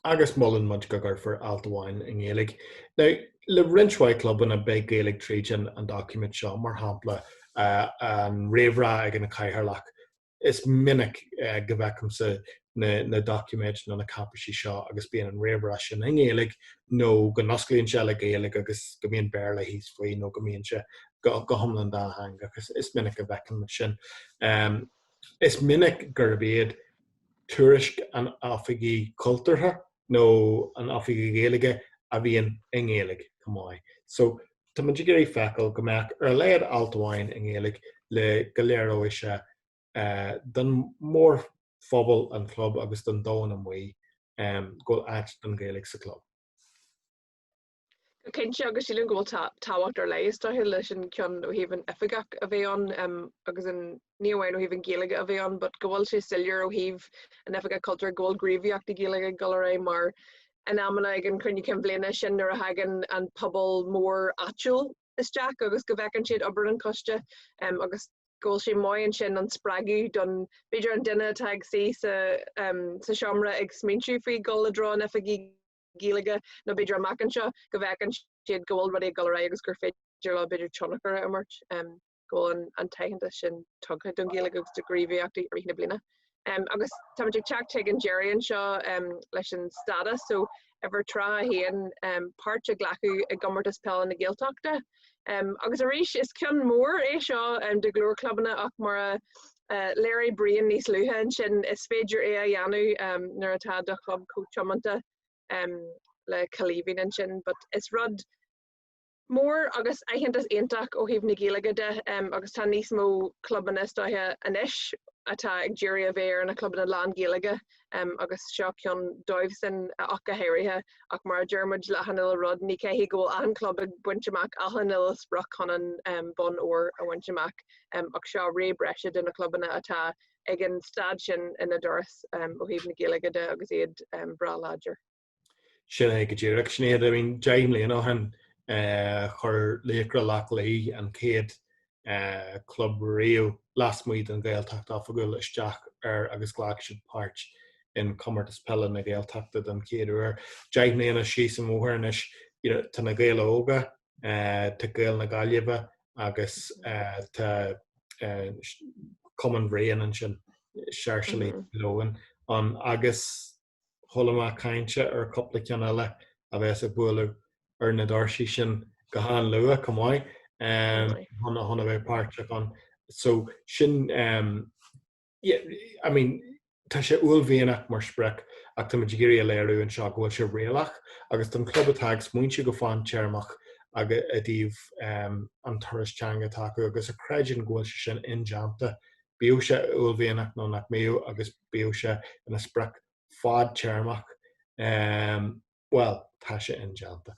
agus molann muid go gcuirfear alt amháin i nGaeilge. Now, le roinnt mhaith clubanna beidh Gaeilge tríd an an doiciméad seo, mar shampla an réamhrá ag an Cathaoirleach. Is minic go bhfeicimse na na doiciméid nó na cáipéisí seo agus bíonn an réamhrá sin i nGaeilge nó go n-osclaíonn sé le Gaeilge agus go mbíonn Béarla thíos faoi nó go mbíonn sé go hiomlán dátheangach. Is is minic a bhfeicimid sin. Is minic gurb iad tuairisc an Oifigigh Chultúrtha nó an Oifigigh Ghaeilge a bhíonn i nGaeilge, chomh maith. So, tá muid ag iarraidh feiceáil go mbeadh ar a laghad alt amháin i nGaeilge le go léireoidh sé don mhórphobal an chlub agus don domhan amuigh go bhfuil áit don Ghaeilge sa chlub. Go cinnte agus sílim go bhfuil tábhacht ar leith is dóiche leis an gceann ó thaobh an oifigeach a bheith ann agus an, ní amháin ó thaobh an Ghaeilge a bheith ann but go bhfuil sé soiléir ó thaobh an oifigeach cultúir go bhfuil gníomhaíochtaí Gaeilge ag dul ar aghaidh mar in amanna ag an chruinniú cinn bhliana sin nuair a thagann an pobal mór áitiúil isteach agus go bhfeiceann siad obair an choiste agus go bhfuil sé maith ansin an spreagadh don, b'fhéidir an duine atá ag suí sa tseomra ag smaointiú faoi dhul i dtreo an oifigigh. Gaeilge nó b'fhéidir amach anseo go bhfeiceann siad go bhfuil rudaí ag dul ar aghaidh agus gur féidir leo b'fhéidir tionchar a imirt go bhfuil an t-aitheantas sin tugtha don Ghaeilge agus do ghníomhaíochtaí i rith na bliana. Agus táimid ag teacht chuig an deireadh anseo leis an stádas so uimhir 31, páirt a ghlacadh i gComórtas Peile na Gaeltachta. Agus arís, is ceann mór é seo do go leor clubanna ach mar a léirigh Brian níos luaithe ansin, is féidir é a dhéanamh nuair atá do chlub chomh tiomanta le Cailíbhín ansin. But is rud mór agus aitheantas iontach ó thaobh na Gaeilge de agus tá níos mó clubanna is dóiche anois atá ag iarraidh a bheith ina gclubanna lán-Ghaeilge um, agus seo ceann dóibh sin ach go héirithe, ach mar a deir muid le hachan uile rud, ní chaithfidh go bhfuil an club ag baint amach achan uile sprioc chun an um, bonn óir a bhaint amach, um, ach seo rogha breise do na clubanna atá ag an staid sin ina dturas um, ó thaobh na Gaeilge de agus iad um, breá láidir. Sin é go díreach. Sin iad, I mean, deich mbliana ó shin eh, chuir Laochra Loch Lao an chéad eh, club riamh lasmuigh den Ghaeltacht oifigiúil isteach air agus ghlac siad páirt in Comórtas Peile na Gaeltachta den chéad uair. Deich mbliana síos an bhóthar anois, you know, tá Na Gaeil Óga, eh, tá Gaeil na Gaillimhe agus eh, tá eh, s- Cumann Bhriain ansin, Sáirséalaigh Leamhcáin ann agus chuala mé caint ar chúpla ceann eile a bheas ag bualadh ar na doirsí sin go han-luath chomh maith chun a bheith páirteach ann. So sin um yeah I mean tá sé uaillmhianach mar sprioc ach táimid ag iarraidh a léiriú anseo go bhfuil sé réalaíoch agus don club atá ag smaointiú go fadtéarmach agus i dtaobh um an turas teanga atá acu agus a chreideann go bhfuil sé sin indéanta bíodh sé uaillmhianach nó nach mbíodh agus bíodh sé ina sprioc fadtéarmach, bhuel, tá sé indéanta.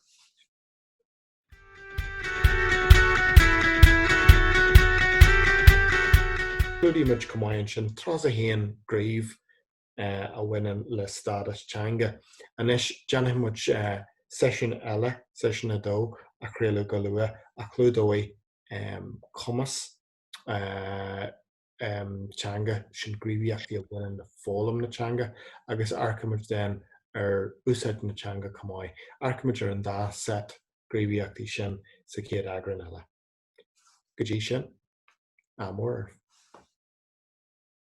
Clúdaigh muid chomh maith ansin tras a haon, craobh a bhaineann le stádas teanga. Anois déanfaidh muid seisiún eile, seisiún 2, a chraoladh go luath a chlúdóidh cumas teanga sin gníomhaíochtaí a bhaineann le foghlaim na teanga agus amharcaimid then ar úsáid na teanga chomh maith. Amharcaimid ar an dá set gníomhaíochtaí sin sa chéad eagrán eile. Go dtí sin, ádh mór oraibh.